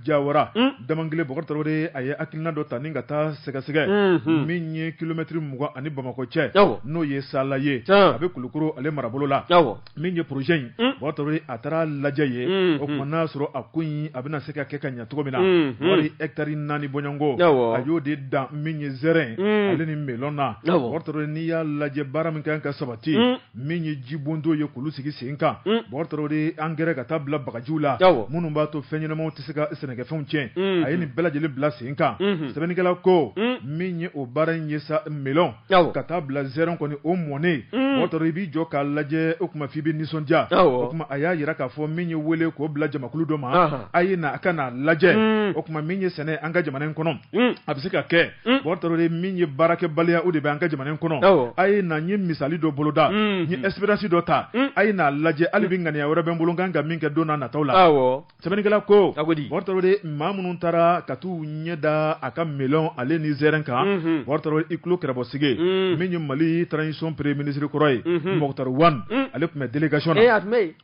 Jawara damangile bɔgɔri tarawele a ye hakilina dɔ ta ni ka taa sɛgɛsɛgɛ min ye kilomɛtiri mugan ani bamakɔ cɛ n'o ye sala ye a bɛ kulukoro ale marabolo la min ye projet in bɔgɔri tarawele a taara lajɛ ye o tuma n'a sɔrɔ a ko in a bɛna se ka kɛ ka ɲɛ cogo min na wari etari naani bɔɲɔgɔnko a y'o de dan min ye zɛrɛn ale ni melon na bɔgɔri tarawele n'i y'a lajɛ baara min kan ka sabati min ye jibondo ye k'olu sigi sen kan mm. bɔgɔri tarawele de angɛrɛ ka taa bila bagajiw la minnu b'a to fɛn ɲɛnamaw tɛ se ka sɛnɛkɛfɛnw tiɲɛ mm. a ye nin bɛɛ lajɛlen bila sen kan mm-hmm. sɛbɛnnikɛla ko mm. min ye o baara in ye sa melɔn ka taa bila zɛrɛn kɔni o mɔnen bɔgɔri tarawele i b'i jɔ k'a lajɛ o tuma f'i bɛ nisɔndiya o tuma a y'a jira k'a fɔ min ye wele k'o bila jamakulu dɔ ma a ye na a ka n'a lajɛ o tuma min ye sɛnɛ an ka jamana in kɔnɔ a bɛ se ka kɛ bɔgɔri tarawele min ye baarakɛbaliya o de bɛ an ka jamana kɔnɔ a ye na n ye misali dɔ boloda n ye expérience dɔ ta a ye n'a lajɛ hali bi ŋaniya wɛrɛ bɛ n bolo n kan ka min kɛ don nataw la sɛbɛnnikɛla ko bɔgɔri tarawele maa minnu taara ka taa u ɲɛ da a ka melon ale ni zɛrɛn kan bɔgɔri tarawele i tulo kɛlɛbɔsigi min ye mali transition premier ministre kɔrɔ ye moctar ouane ale tun bɛ délégation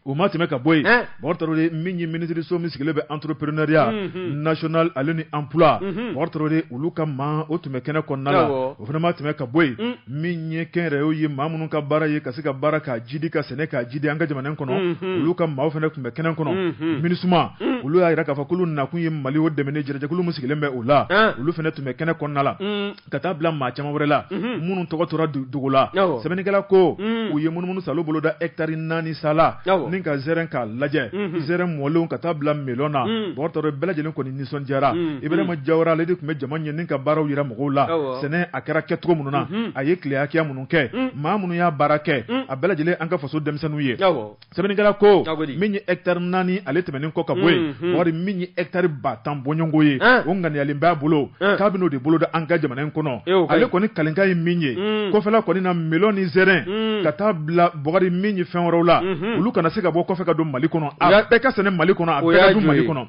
O ma tɛmɛ ka bɔ yen bɔgɔri tarawele min ye minisiriso min sigilen bɛ entrepreneuriat national ale ni emploi bɔgɔri tarawele olu ka maa o tun bɛ kɛnɛ kɔnɔna la o fana ma tɛmɛ ka bɔ yen min ye kɛnyɛrɛye maa minnu ka baara ye ka se ka baara k'a jidi ka sɛnɛ k'a jidi an ka jamana kɔnɔ olu ka maa fana tun bɛ kɛnɛ kɔnɔ minusma olu y'a jira k'a fɔ k'olu nakun ye mali o dɛmɛ ye jɛkulu min sigilen bɛ o la olu fana tun bɛ kɛnɛ kɔnɔna la ka taa bila maa caman wɛrɛ la minnu tɔgɔ tora dugu la sɛbɛnnikɛla ko u ye munumunu sa boloda etari naani sala ni ka zɛrɛn k'a lajɛ zɛrɛn mɔlenw ka taa bila melon na bɔgɔri tarawele bɛɛ lajɛlen kɔni nisɔndiyara ibrahima jawara ale de tun bɛ jama ɲɛ ni ka baaraw jira mɔgɔw la sɛnɛ a kɛra kɛcogo minnu na a ye tile hakɛya minnu kɛ maa minnu y'a baara kɛ a bɛɛ lajɛlen an ka faso denmisɛnninw ye sɛbɛnnikɛla ko min ye hectare naani ale tɛmɛnen kɔ ka bɔ yen mm-hmm. wari min ye hectare ba tan bɔɲɔgɔnko ye ah. o ŋaniyalen b'a bolo ah. k'a bɛn'o de boloda an ka jamana in kɔnɔ ale kɔni kalenkan ye min ye mm. kɔfɛla kɔni na melon ni zɛrɛn mm. ka taa bila bɔgɔri min ye fɛn wɛrɛw la mm-hmm. olu kana se ka bɔ kɔfɛ ka don mali kɔnɔ a bɛɛ ka sɛnɛ mali kɔnɔ a bɛɛ ka dun mali kɔnɔ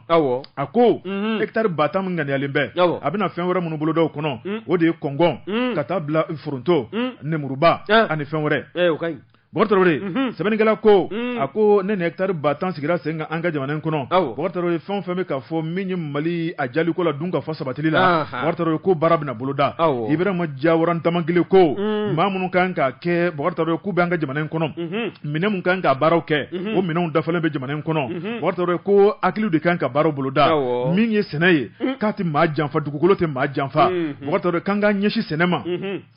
a ko mm-hmm. hectare ba tan min ŋaniyalen bɛ a bɛna fɛn wɛrɛ minnu boloda o kɔnɔ mm. o de ye kɔngɔn ka taa bila foronto nemuruba ah. ani fɛn wɛrɛ Bɔkari sɛbɛnnikɛla ko a ko ne ni taari ba tan sigira sen kan an ka jamana in kɔnɔ ye fɛn fɛn bɛ ka fɔ min ye mali a jaliko la dunkafa sabatili la ye ko baara bɛna boloda Ibrahima Jawara damankili ko maa minnu kan k'a kɛ ye k'u bɛ an ka jamana in kɔnɔ minɛn min kan ka baaraw kɛ o minɛn dafalen bɛ jamana in kɔnɔ ye ko hakili de kan ka baara boloda min ye sɛnɛ ye k'a tɛ maa janfa dugukolo tɛ maa janfa k'an ka ɲɛsin sɛnɛ ma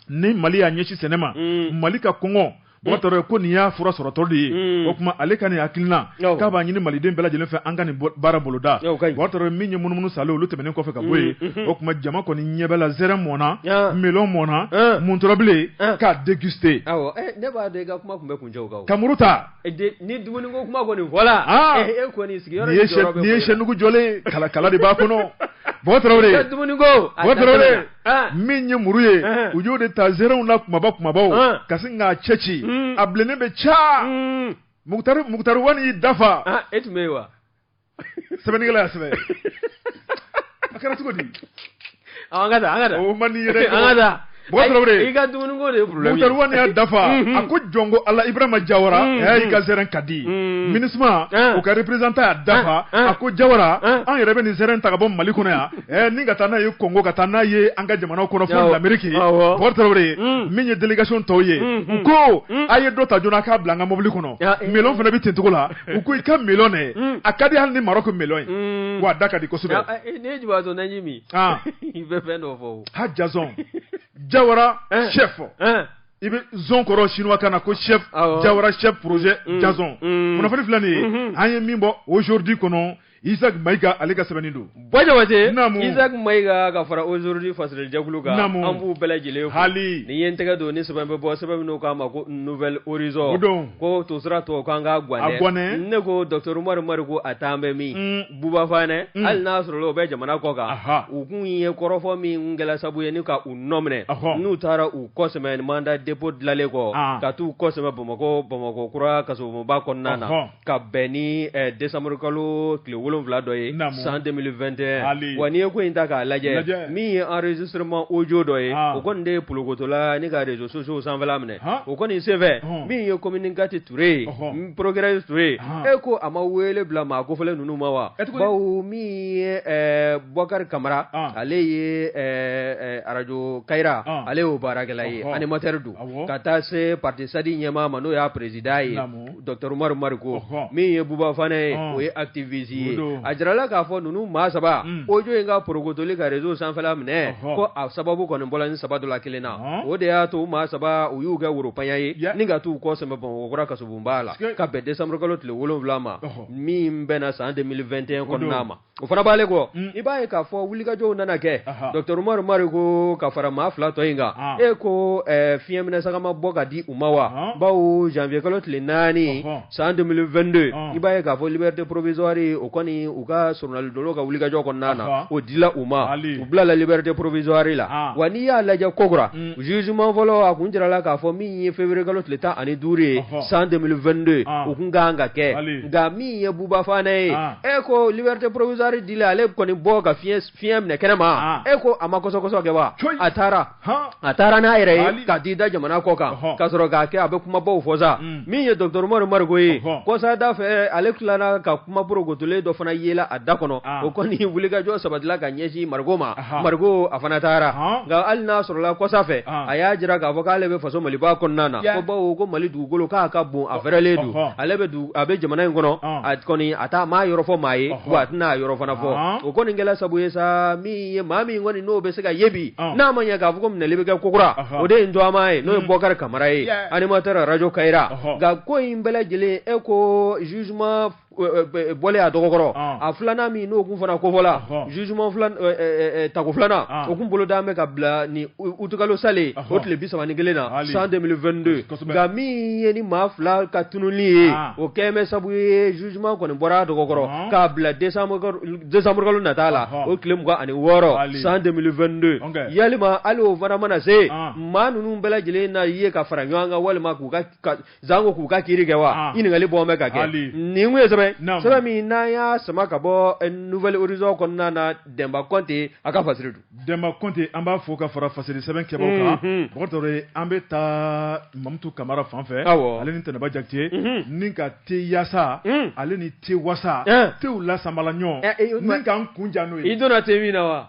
ni mali y'a ɲɛsin sɛnɛ ma mali ka kɔngɔ Bokar Traoré ko nin y'a fura sɔrɔtɔ de ye mm. o tuma ale ka nin hakilina k'a b'a ɲini maliden bɛɛ lajɛlen fɛ an ka nin baara boloda Bokar Traoré min ye munumunu salen olu tɛmɛnen kɔfɛ ka bɔ yen mm, mm, o tuma jama kɔni ɲɛ bɛ la zɛrɛ mɔnna melon mɔnna muntɔrɔbilen k'a déguster eh, ne b'a dɔn i ka kuma tun bɛ kuncɛ o kan ka muru ta eh, ni dumuni ko kuma kɔni fɔla ah. eh, e kɔni sigiyɔrɔ nin ye sɛnugu jɔlen kala kala de b'a kɔnɔ Bokar Traoré Bokar Traoré Ah. min ye muru ye ah. u y'o de ta zɛrɛnw na kumaba kumabaw ah. ka sin k'a cɛ ci mm. a bilennen bɛ ca mm. mukutari mukutari wani y'i da fa e tun bɛ yen wa sɛbɛnnikɛla y'a sɛbɛn a kɛra cogo di an ka taa an ka taa o man di yɛrɛ an ka taa Bokar Traoré i ka dumuni ko de ye problème mukutari wani y'a da fa mm-hmm. a ko jɔnko ala ibrahima jawara mm-hmm. ɛ i ka zɛrɛn ka di mm-hmm. MINUSMA o ka représentant y'a da fa a ko jawara an yɛrɛ bɛ nin zɛrɛn ta ka bɔ mali kɔnɔ yan Eh, ni ka taa n'a ye Congo ka taa n'a ye an ka jamanaw kɔnɔ fɔ l'Amérique Bukari Tarawele mm. min ye délégation tɔw ye mm, mm. u ko a ye dɔ ta joona k'a bila an ka mobili kɔnɔ eh. melon fana bɛ ten cogo la u ko i ka melon dɛ a ka di hali ni Maroc melon ye wa a da ka di kosɛbɛ. Ah, eh, ne ye jibatɔ naji min ah. i bɛ fɛn dɔ fɔ o. ha Jazon Jawara chef. i bɛ zon kɔrɔ chinois kan na ko chef Jawara chef projet Jazon kunnafoni filɛ nin ye an ye min bɔ Aujourd'hui kɔnɔ. Isaac Maïga ale ka sɛbɛnni don Isaac Maïga ka fara Aujourd'hui fasirilijɛkulu kan an b'u bɛɛ lajɛlen hali ni ye n tɛgɛ don ni sɛbɛn bɛ bɔ sɛbɛn minnu k'a ma ko Nouvel Horizon ko tosira tɔ k'an ka ganɛ ne ko docteur Umaru Mariko a taa an bɛ min Buba Fane hali n'a sɔrɔ o bɛ jamana kɔ kan u kun ye kɔrɔfɔ min kɛla sabu ye ni ka u nɔ minɛ n'u taara u kɔsɛmɛ mandat dépôt dilanlen kɔ ka taa u kɔsɛmɛ bamakɔ bamakɔ kura kasobonba kɔnɔna na ka bɛn ni eh, décembre kalo tile wolonwula dɔ ye san 2021 wa n'i ye ko in ta k'a lajɛ min ye enregistrement audio dɔ ye ah. o kɔni de ye polokotola ni ka réseaux sociaux sanfɛla minɛ o kɔni senfɛ min ye commune quatre Ture ye procureur Ture e ko a ma wele bila maa kofɔlen ninnu ma wa bawo min ye eh, Bakari Kamara ah. ale ye eh, arajo Kayira ah. ale y'o baarakɛla ye animateur don ka taa se parti SADI ɲɛmaa ma n'o y'a président ye Dɔgɔtɔrɔ Umaru Mariko min ye Buba Fane ye o ye activiste ye a jirala k'a fɔ ninnu maa saba audio in ka porokotuli ka réseau sanfɛla minɛ ko a sababu kɔni bɔra ni saba dɔ la kelen na o de y'a to maa saba u y'u kɛ woropaɲa ye ni ka taa u kɔ sɛmɛ Bamakɔkura kasobonba la ka bɛn desanburukalo tile wolonwula ma min bɛnna san 2021 kɔnɔna ma o fana bɔlen kɔ i b'a ye k'a fɔ wulikajɔw nana kɛ Dɔgɔtɔrɔ Umaru Mariko ka fara maa fila tɔ in kan e ko fiɲɛ minɛ sagama bɔ ka di u ma wa bawo janvier kalo tile naani san 2022 i b'a ye k'a fɔ liberté provisoire o kɔni u ka soronadonna ka wulikajɔ kɔnɔna na o dila u ma u bilala liberté provisoire la wa n'i y'a lajɛ kokura jugement fɔlɔ a kun jirala k'a fɔ min ye février kalo tile tan ani duuru ye san 2022 o tun ka kan ka kɛ nka min ye Buba Fane ye e ko liberté provisoire dila ale kɔni bɔ ka fi fiɲɛ minɛ kɛnɛ ma e ko a ma kɔsɔkɔsɔ kɛ wa a taara a taara n'a yɛrɛ ye ka t'i da jamana kɔ kan ka sɔrɔ k'a kɛ a bɛ kumabaw fɔ sa mm. min ye Dɔgɔtɔrɔ Umaru Mariko ye kɔsada fɛ ale tilala ka kuma porokotolen dɔ fana yela a da kɔnɔ o kɔni wulikajɔ sabatila ka ɲɛsin mariko ma mariko a fana taara nka hali n'a sɔrɔla kɔsa fɛ a y'a jira k'a fɔ k'ale bɛ faso maliba kɔnɔna na ko bawo ko mali dugukolo k'a ka bon a fɛrɛlen don ale bɛ a bɛ jamana in kɔnɔ a kɔni a t'a maa yɔrɔ fɔ maa ye a tɛn'a yɔrɔ fana fɔ o kɔni kɛla sabu ye sa min ye maa min kɔni n'o bɛ se ka ye bi n'a ma ɲɛ k'a fɔ ko minɛli bɛ kɛ kokura o de ye n tɔgɔma ye n'o ye bɔkari kamara ye animateur arajo Kayira nka ko in bɛɛ lajɛlen e ko jugement bɔlen a dɔgɔkɔrɔ a filanan min n'o tun fana kofɔla jugement tako filanan o tun bolodalen bɛ ka bila ni utukalo salen o tile bi saba ni kelen na san 2022 nka min ye ni maa fila ka tununli ye ah. o kɛlen bɛ sabu ye jugement kɔni bɔra a dɔgɔkɔrɔ k'a bila décembre kalo nata la o tile mugan ani wɔɔrɔ san 2022 yalima hali o fana mana se ah. maa ninnu bɛɛ lajɛlen na ye ka fara ɲɔgɔn kan walima k'u ka janko k'u ka kiri kɛ wa ah. ɲininkali bɔ bɛ ka kɛ nin kun ye sɛbɛn sɛbɛn min n'an y'a sama ka bɔ eh, Nouvel Horizon kɔnɔna na dɛnba kɔnte a ka fasiri don dɛnba kɔnte an b'a fo ka fara fasiri sɛbɛn kɛbagaw kan mhm. bɔkari tarawele an bɛ taa mamutu kamara fan fɛ ale ni tɛnɛba jakite mhm. ni ka te yasa mhm. ale ni te wasa eh. tew lasamala ɲɔgɔn eh, ni k'an kun ja n'o ye i donna te min na wa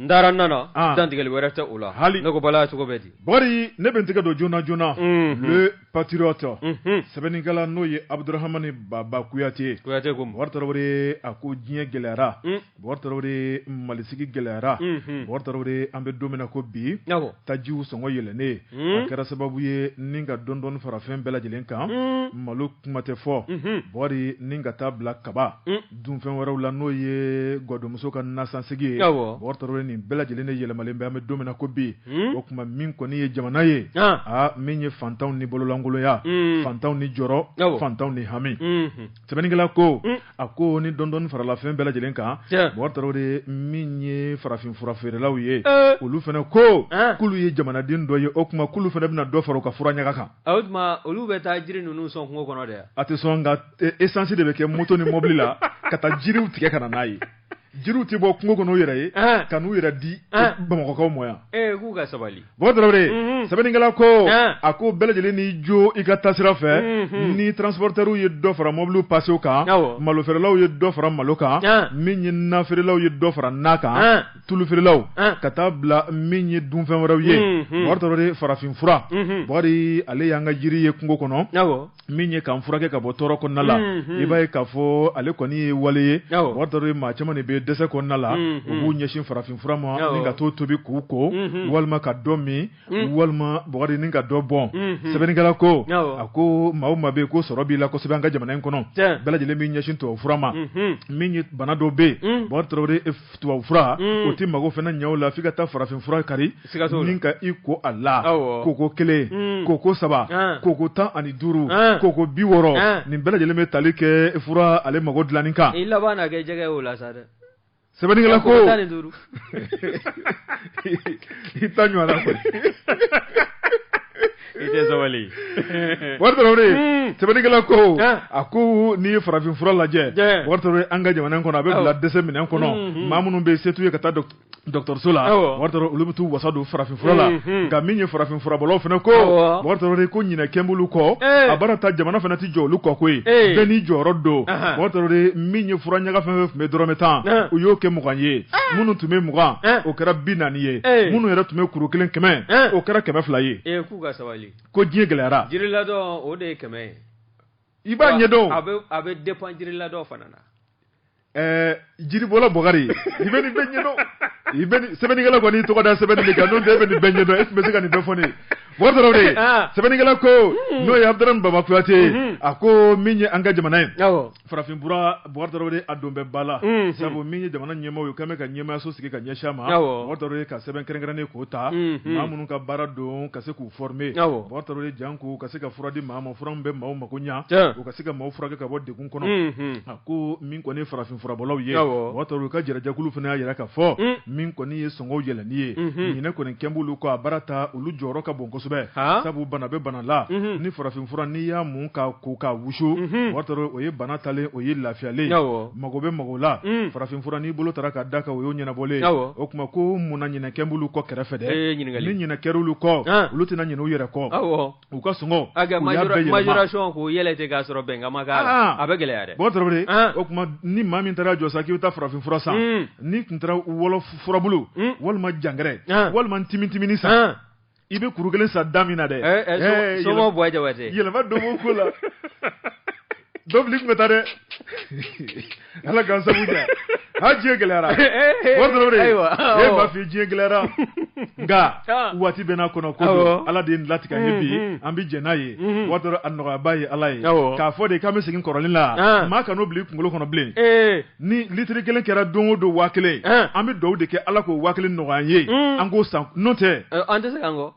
n taara nana ah. dantigɛli wɛrɛ tɛ o la hali ne ko bala cogo bɛ di bari ne bɛ n tɛgɛ don joona joona mhm. le patriote mhm. sɛbɛnnikɛla n'o ye abudurahamani baba kuyate kuyate ko bɔkari tarawele a ko diɲɛ gɛlɛyara mm. bɔkari tarawele Mali sigi gɛlɛyara mhm. bɔkari tarawele an bɛ don min na ko bi tajiw sɔngɔ yɛlɛnnen mm. a kɛra sababu ye ni ka dɔɔni dɔɔni fara fɛn bɛɛ lajɛlen kan mm. malo kuma tɛ fɔ bɔkari ni ka taa bila kaba dunfɛn wɛrɛw la n'o ye gadonmuso ka nasansegi ye Bubakari Tarawele nin bɛɛ lajɛlen yɛlɛmalen bɛ an bɛ don min na ko bi o tuma min kɔni ye jamana ye aa min ye fantanw ni bololankolonya fantanw ni jɔrɔ fantanw ni hami sɛbɛnnikɛla ko a ko ni dɔɔnin dɔɔnin farala fɛn bɛɛ lajɛlen kan Bubakari Tarawele min ye farafin fura feerelaw ye olu fana ko k'olu ye jamanaden dɔ ye o tuma k'olu fana bɛna dɔ fara u ka fura ɲaga kan olu bɛ taa jiri ninnu sɔn kungo kɔnɔ dɛ a tɛ sɔn esansi de bɛ kɛ moto ni mobili la ka taa jiriw tigɛ ka na n'a ye jiriw tɛ bɔ kungo kɔnɔ u yɛrɛ ye ka n'u yɛrɛ di bamakɔkaw ma yan k'u ka sabali Bubakari Tarawele sɛbɛnnikɛla ko a ko bɛɛ lajɛlen n'i jo i ka taasira fɛ ni transporteurs ye dɔ fara mobili pasew kan malo feerelaw ye dɔ fara malo kan min ye na feerelaw ye dɔ fara na kan tulu feerelaw ka taa bila min ye dunfɛn wɛrɛw ye farafin fura ale y'an ka jiri ye kungo kɔnɔ min ye k'an furakɛ ka bɔ tɔɔrɔ kɔnɔna la i b'a ye k'a fɔ ale kɔni ye wale ye Bubakari Tarawele maa caman de bɛ dɛsɛ kɔnɔna la u b'u ɲɛsin farafin fura ma ni ka dɔ tobi k'u ko walima ka dɔ min walima Bubakari ni ka dɔ bɔn sɛbɛnnikɛla ko a ko maa o maa bɛ ko sɔrɔ b'i la kosɛbɛ an ka jamana in kɔnɔ bɛɛ lajɛlen b'i ɲɛsin tubabu fura ma min ye bana dɔ bɛ yen tubabu fura o tɛ mago fana ɲɛ o la f'i ka taa farafin fura kari ni ka i ko a la koko kelen koko saba koko tan ani duuru koko bi wɔɔrɔ nin bɛɛ lajɛlen bɛ tali kɛ fura ale mago dilanni kan i laban na kɛ jɛgɛ o la sa dɛ sɛbɛnnikɛla ko i ta ɲɔgɔn sabali Bubakari Tarawele sɛbɛnnikɛla ko a ko n'i ye farafin fura lajɛ an ka jamana kɔnɔ a bɛ bila dɛsɛ minɛn kɔnɔ mm-hmm. maa minnu bɛ se t'u ye ka taa dɔgɔtɔrɔso la olu bɛ t'u wasa don farafin fura la mm-hmm. nka min ye farafin furabɔlaw fana ko ko ɲinɛ kɛ b'olu kɔ a baara ta jamana fana tɛ jɔ olu kɔ koyi bɛɛ n'i jɔyɔrɔ don min ye fura ɲaga fɛn fɛn tun bɛ dɔrɔmɛ tan u y'o kɛ mugan ye minnu tun bɛ mugan o kɛra bi naani ye minnu yɛrɛ tun bɛ kuru kelen kɛmɛ o kɛra kɛmɛ fila ye k'u ka sabali ko diɲɛ gɛlɛyara jiriladɔn o de ye kɛmɛ ye i b'a ɲɛdɔn a bɛ depend jiriladɔn fana na ɛɛ jiribɔla Bubakari i bɛ nin bɛɛ ɲɛdɔn i bɛ sɛbɛnnikɛla kɔni tɔgɔ da sɛbɛnni de kan n'o tɛ e bɛ nin bɛɛ ɲɛdɔn e tun bɛ se ka nin bɛɛ fɔ ne ye Bubakari Tarawele sɛbɛnnikɛla ko n'o ye Abudaramani Baba Kuyate a ko min ye an ka jamana ye Farafin fura Bubakari Tarawele a don bɛ ba la sabu min ye jamana ɲɛmaaw ye kɛlen ka ɲɛmaayaso sigi ka ɲɛsin a ma Bubakari Tarawele ka sɛbɛn kɛrɛnkɛrɛnnen k'o ta maa minnu ka baara don ka se k'u former Bubakari Tarawele janko ka se ka fura di maa ma fura min bɛ maa mako ɲɛ u ka se ka maaw furakɛ ka bɔ degun kɔnɔ a ko min kɔni ye farafin furabɔlaw ye ka jɛnɛjakulu fana y'a jira k'a fɔ min kɔni ye Sɔngɔw yɛlɛnni ye, unhun, ɲinɛ kɔni kɛn b'olu kɔ a baara ta olu jɔyɔrɔ ka bon kosɛbɛ, haa, sabu bana bɛ bana la, unhun, ni farafin fura n'i y'a mun ka ko ka wusu, unhun, o y'a sɔrɔ o ye bana taalen o ye lafiyalen ye, awɔ, mago bɛ mago la, un, farafin fura n'i bolo taara ka d'a kan o y'o ɲɛnabɔlen ye, awɔ, o tuma ko mun na ɲinɛ kɛn b'olu kɔ kɛrɛfɛ dɛ, ee ɲininkali, ni ɲinɛ kɛr'olu kɔ, an, olu tɛna ɲinɛ u yɛrɛ kɔ, awɔ U ka sɔngɔ yɛlɛ k'a sɔrɔ bɛnkan ma k'a la a bɛ gɛlɛya dɛ o tuma ni maa min taara jɔ sa k'i bɛ taa farafin fura san n'i tun taara wɔlɔ furabulu walima jangɛrɛ walima timitimini san i bɛ kuru kelen san da min na dɛ yɛlɛma don o ko la dɔbili tun bɛ taa dɛ ala k'an sabu kɛ ha diɲɛ gɛlɛyara bubakari tarawele e b'a f'i diɲɛ gɛlɛyara nka waati bɛ n'a kɔnɔ ko don ala de ye nin latigɛ an ye bi an bɛ jɛn n'a ye bubakari tarawele a nɔgɔyaba ye ala ye k'a fɔ de k'an bɛ segin kɔrɔlen la maa kan'o bila i kunkolo kɔnɔ bilen ni litiri kelen kɛra don o don waa kelen an bɛ dugawu de kɛ ala k'o waa kelen nɔgɔya an ye an k'o san n'o tɛ an tɛ se ka kɔ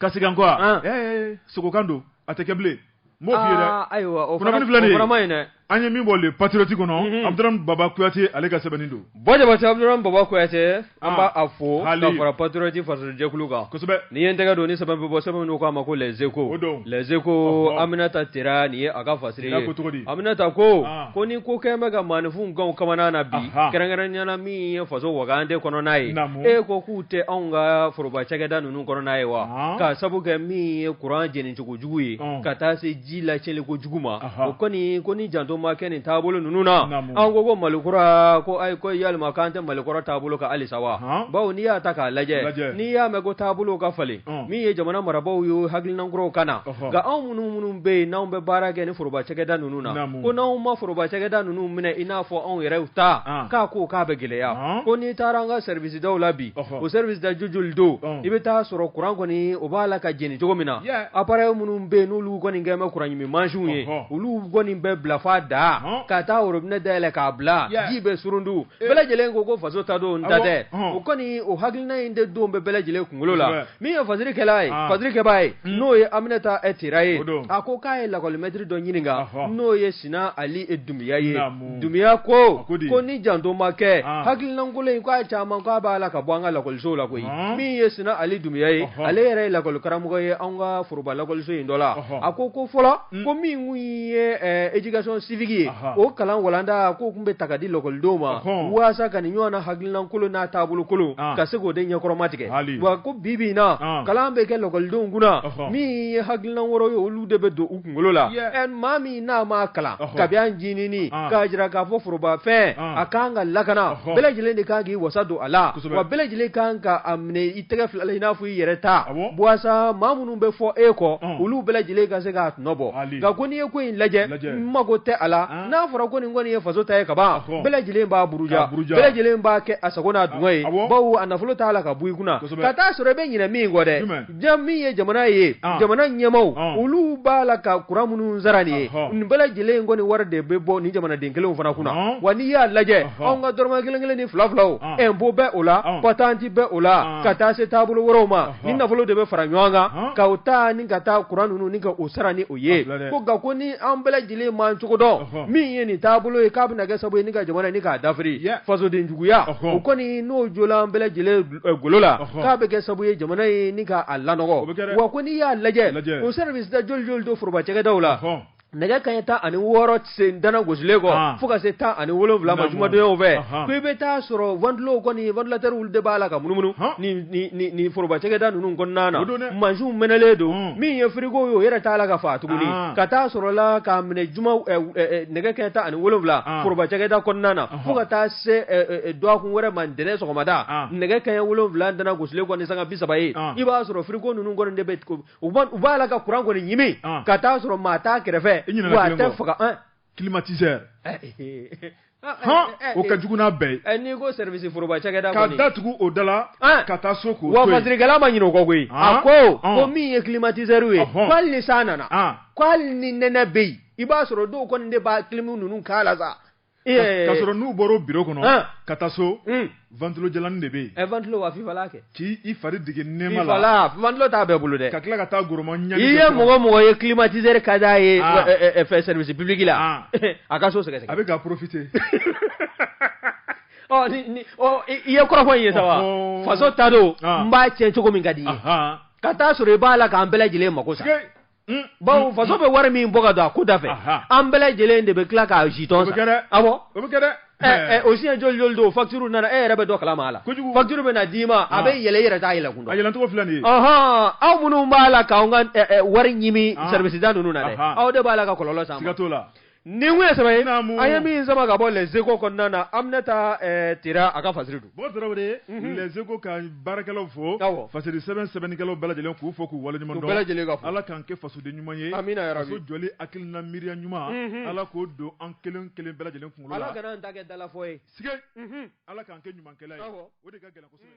ka segin an kɔ wa an ɛɛ eh, eh, sogokan don a tɛ kɛ bilen n b'o f'i ye dɛ ah, ayiwa o fana kunnafoni filɛ nin ye o fana ma ɲi dɛ an ye min bɔ le patriote kɔnɔ mhm. abuduramani baba kuyate ale ka sɛbɛnni don bɔ jabate abuduramani baba kuyate an ah, b'a a fo ka fara patriote fasojɛkulu kan kosɛbɛ ni ye n tɛgɛ don ni sɛbɛn bɛ bɔ sɛbɛn min k'a ma ko les échos o don les échos aminata tera nin ye a ka fasiri ye ko cogo di aminata ko ah. ko ni ko kɛn bɛ ka maaninfinw gan u kamana na bi kɛrɛnkɛrɛnnenya la min ye faso wagande kɔnɔna ye e ko k'u tɛ anw ka foroba cakɛda ninnu kɔnɔna ye wa k'a sabu kɛ min ye kuran jeni cogo jugu ye ka taa se ji lacɛn ko jugu ma o kɔni ko ni janto ma kɛ nin taabolo ninnu na an ko ko mali kura ko ayi ko yala k'an tɛ mali kɔrɔ taabolo kan halisa wa bawo n'i y'a ta k'a lajɛ n'i y'a mɛn ko taabolo ka falen min ye jamana marabagaw ye hakilina kuraw ka na nka anw minnu minnu bɛ yen n'anw bɛ baara kɛ nin foroba cakɛda ninnu na ko n'anw ma foroba cakɛda ninnu minɛ i n'a fɔ anw yɛrɛ ta k'a ko k'a bɛ gɛlɛya ko n'i taara an ka service daw la bi o service da jo joli don i bɛ taa sɔrɔ kuran kɔni o b'a la ka jeni cogo min na appareil minnu bɛ yen n'olu kɔni kɛn bɛ kuran ɲimi mansinw ye olu kɔni bɛ bila f'a dan ka taa robinet dayɛlɛ k'a bila ji bɛ surundu bɛɛ lajɛlen ko ko faso ta don n ta tɛ o kɔni o hakilina in de don bɛ bɛɛ lajɛlen kunkolo la min ye fasirikɛla ye fasirikɛbaa ye n'o ye Aminata Tera ye a ko k'a ye lakɔli maitre dɔ ɲininka n'o ye Sina Ali Dunbiya ye. dunbiya ko ko ni janto ma kɛ ah. hakilina kolon in k'a caman k'a b'a la ka bɔ an ka lakɔlisow la koyi ah. min ye sina ali dunbiya ye ale yɛrɛ ye lakɔli karamɔgɔ ye an ka foroba lakɔliso in dɔ la a ko ko fɔlɔ mm. ko min kun ye eh, éducation civique ye o kalan walanda k'o tun bɛ ta ka di lakɔlidenw ma waasa ka nin ɲɔgɔnna hakilina kolon n'a taabolo kolon ah. ka se k'o de ɲɛkɔrɔma tigɛ wa ko bi bi in na kalan bɛ kɛ lakɔlidenw kunna min ye hakilina wɛrɛw ye olu de bɛ don u kunkolo la ɛ maa min n'a ma kalan kabi a ncinin k'a jira k'a fɔ forobafɛn a ka kan ka lakana bɛɛ lajɛlen de kan k'i wasa don a la wa bɛɛ lajɛlen kan ka a minɛ i tɛgɛ fila la i n'a fɔ i yɛrɛ ta waasa maa minnu bɛ fɔ e kɔ olu bɛɛ lajɛlen ka se k'a tɔnɔ bɔ nka ko n'i ye ko in lajɛ n mago tɛ a la n'a fɔra ko nin kɔni ye faso ta ye ka ban bɛɛ lajɛlen b'a buruja bɛɛ lajɛlen b'a kɛ a sago n'a dungɔ ye bawo a nafolo t'a la ka bɔ i kunna ka t'a sɔrɔ i bɛ ɲinɛ min kɔ dɛ ja min ye jamana ye jamana ɲɛmaw olu b'a la ka kuran minnu sara nin ye nin bɛɛ lajɛlen in kɔni nin wari de bɛ bɔ ni jamanaden kelen fana kunna wa n'i y'a lajɛ anw ka dɔrɔmɛ kelen kelen ni fila filaw impôt bɛ o la patente bɛ o la ka taa se taabolo wɛrɛw ma ni nafolo de bɛ fara ɲɔgɔn kan ka o ta ni ka taa kuran ninnu ni ka o sara ni o ye ko nka ko ni an bɛɛ lajɛlen ma cogo dɔn min ye nin taabolo ye k'a bɛna kɛ sababu ye ni ka jamana ni k'a dafiri fasodenjuguya o kɔni n'o jɔra an bɛɛ lajɛlen golo la k'a bɛ kɛ sabu ye jamana ye ni k'a lanɔgɔ wa ko n'i y'a lajɛ o service da joli joli don foroba cakɛdaw la nɛgɛ kaɲɛ tan ni wɔɔrɔ sen dana gosilen kɔ fo ka se tan ni wolo wolonwula ma jumadonw fɛ ko i bɛ taa sɔrɔ ventilow kɔni ventilateur olu de b'a la ka munumunu ni foroba cakɛda ninnu kɔnɔna na mansinw mɛnɛlen don min ye frigo ye o yɛrɛ t'a la ka fa tuguni ka taa sɔrɔ la k'a minɛ nɛgɛ kaɲɛ tan ni wolonwula foroba cakɛda kɔnɔna na fo ka taa se dɔgɔkun wɛrɛ ma ntɛnɛn sɔgɔmada nɛgɛ kaɲɛ wolonwula dana gosilen kɔ ni sanga bi saba ye i b'a sɔrɔ frigo ninnu kɔni de bɛ u b'a la ka kuran kɔni ɲimi ka t'a sɔrɔ maa t'a kɛrɛfɛ wa a tɛ faga climatiseur o ka jugu n'a bɛɛ ye n'i ko service foroba cakɛda ka datugu o da la ka taa so k'o to yen wa fasirikɛla ma ɲinɛ o kɔ koyi a ko ko min ye climatiseur ye ko hali ni san nana ko hali ni nɛnɛ bɛ yen i b'a sɔrɔ dɔw kɔni de b'a clim ninnu k'a la sa ka sɔrɔ n'u bɔra o bureau kɔnɔ ka taa so ventilo jalanin de bɛ yen, ɛ ventilo wa fifalan kɛ, k'i i fari dege nɛɛma la, fifalan ventilo t'a bɛɛ bolo dɛ, ka tila ka taa goroma ɲani, i ye mɔgɔ o mɔgɔ ye climatiseur ka d'a ye fɛn service public la a ka so sɛgɛsɛgɛ, a bɛ ka profiter ɔ ni ni ɔ i ye kɔrɔfɔ in ye sa wa, faso ta don n b'a tiɲɛ cogo min ka di i ye, ka t'a sɔrɔ i b'a la k'an bɛɛ lajɛlen mako sa. Unhun, bawo faso bɛ wari min bɔ ka don a ko da fɛ, anhan, an bɛɛ lajɛlen de bɛ tila k'a jitɔn san, o bɛ kɛ dɛ, awɔ, o bɛ kɛ dɛ, ɛ ɛ o siɲɛ joli joli don facture nana e yɛrɛ bɛ dɔ kalama a la, kojugu, facture bɛna d'i ma a bɛ yɛlɛ i yɛrɛ t'a yɛlɛkun dɔn, a yɛlɛncogo filɛ nin ye, ɔnhɔn, aw minnu b'a la k'anw ka ɛ ɛ wari ɲimi service da ninnu na dɛ, anhan, aw de b'a la ka kɔlɔlɔ s'an ma, siga t'o la. Nin tun ye sɛbɛn ye, naamu, an ye min sama ka bɔ les echos kɔnɔna na Aminata Tera a ka fasiri don, bon Tarawele, unhun, les echos ka baarakɛlaw fo, awɔ, fasiri sɛbɛn sɛbɛnnikɛlaw bɛɛ lajɛlen k'u fo k'u waleɲuman dɔn, u bɛɛ lajɛlen ka fo, Ala k'an kɛ fasoden ɲuman ye, amina yarabi, faso jɔli hakilina miiriya ɲuman, unhun, Ala k'o don an kelen kelen bɛɛ lajɛlen kunkolo la, Ala kana an ta kɛ dalafɔ ye, sikeyi, unhun, Ala k'an kɛ ɲumankɛla ye, awɔ, o de ka gɛlɛn kosɛbɛ.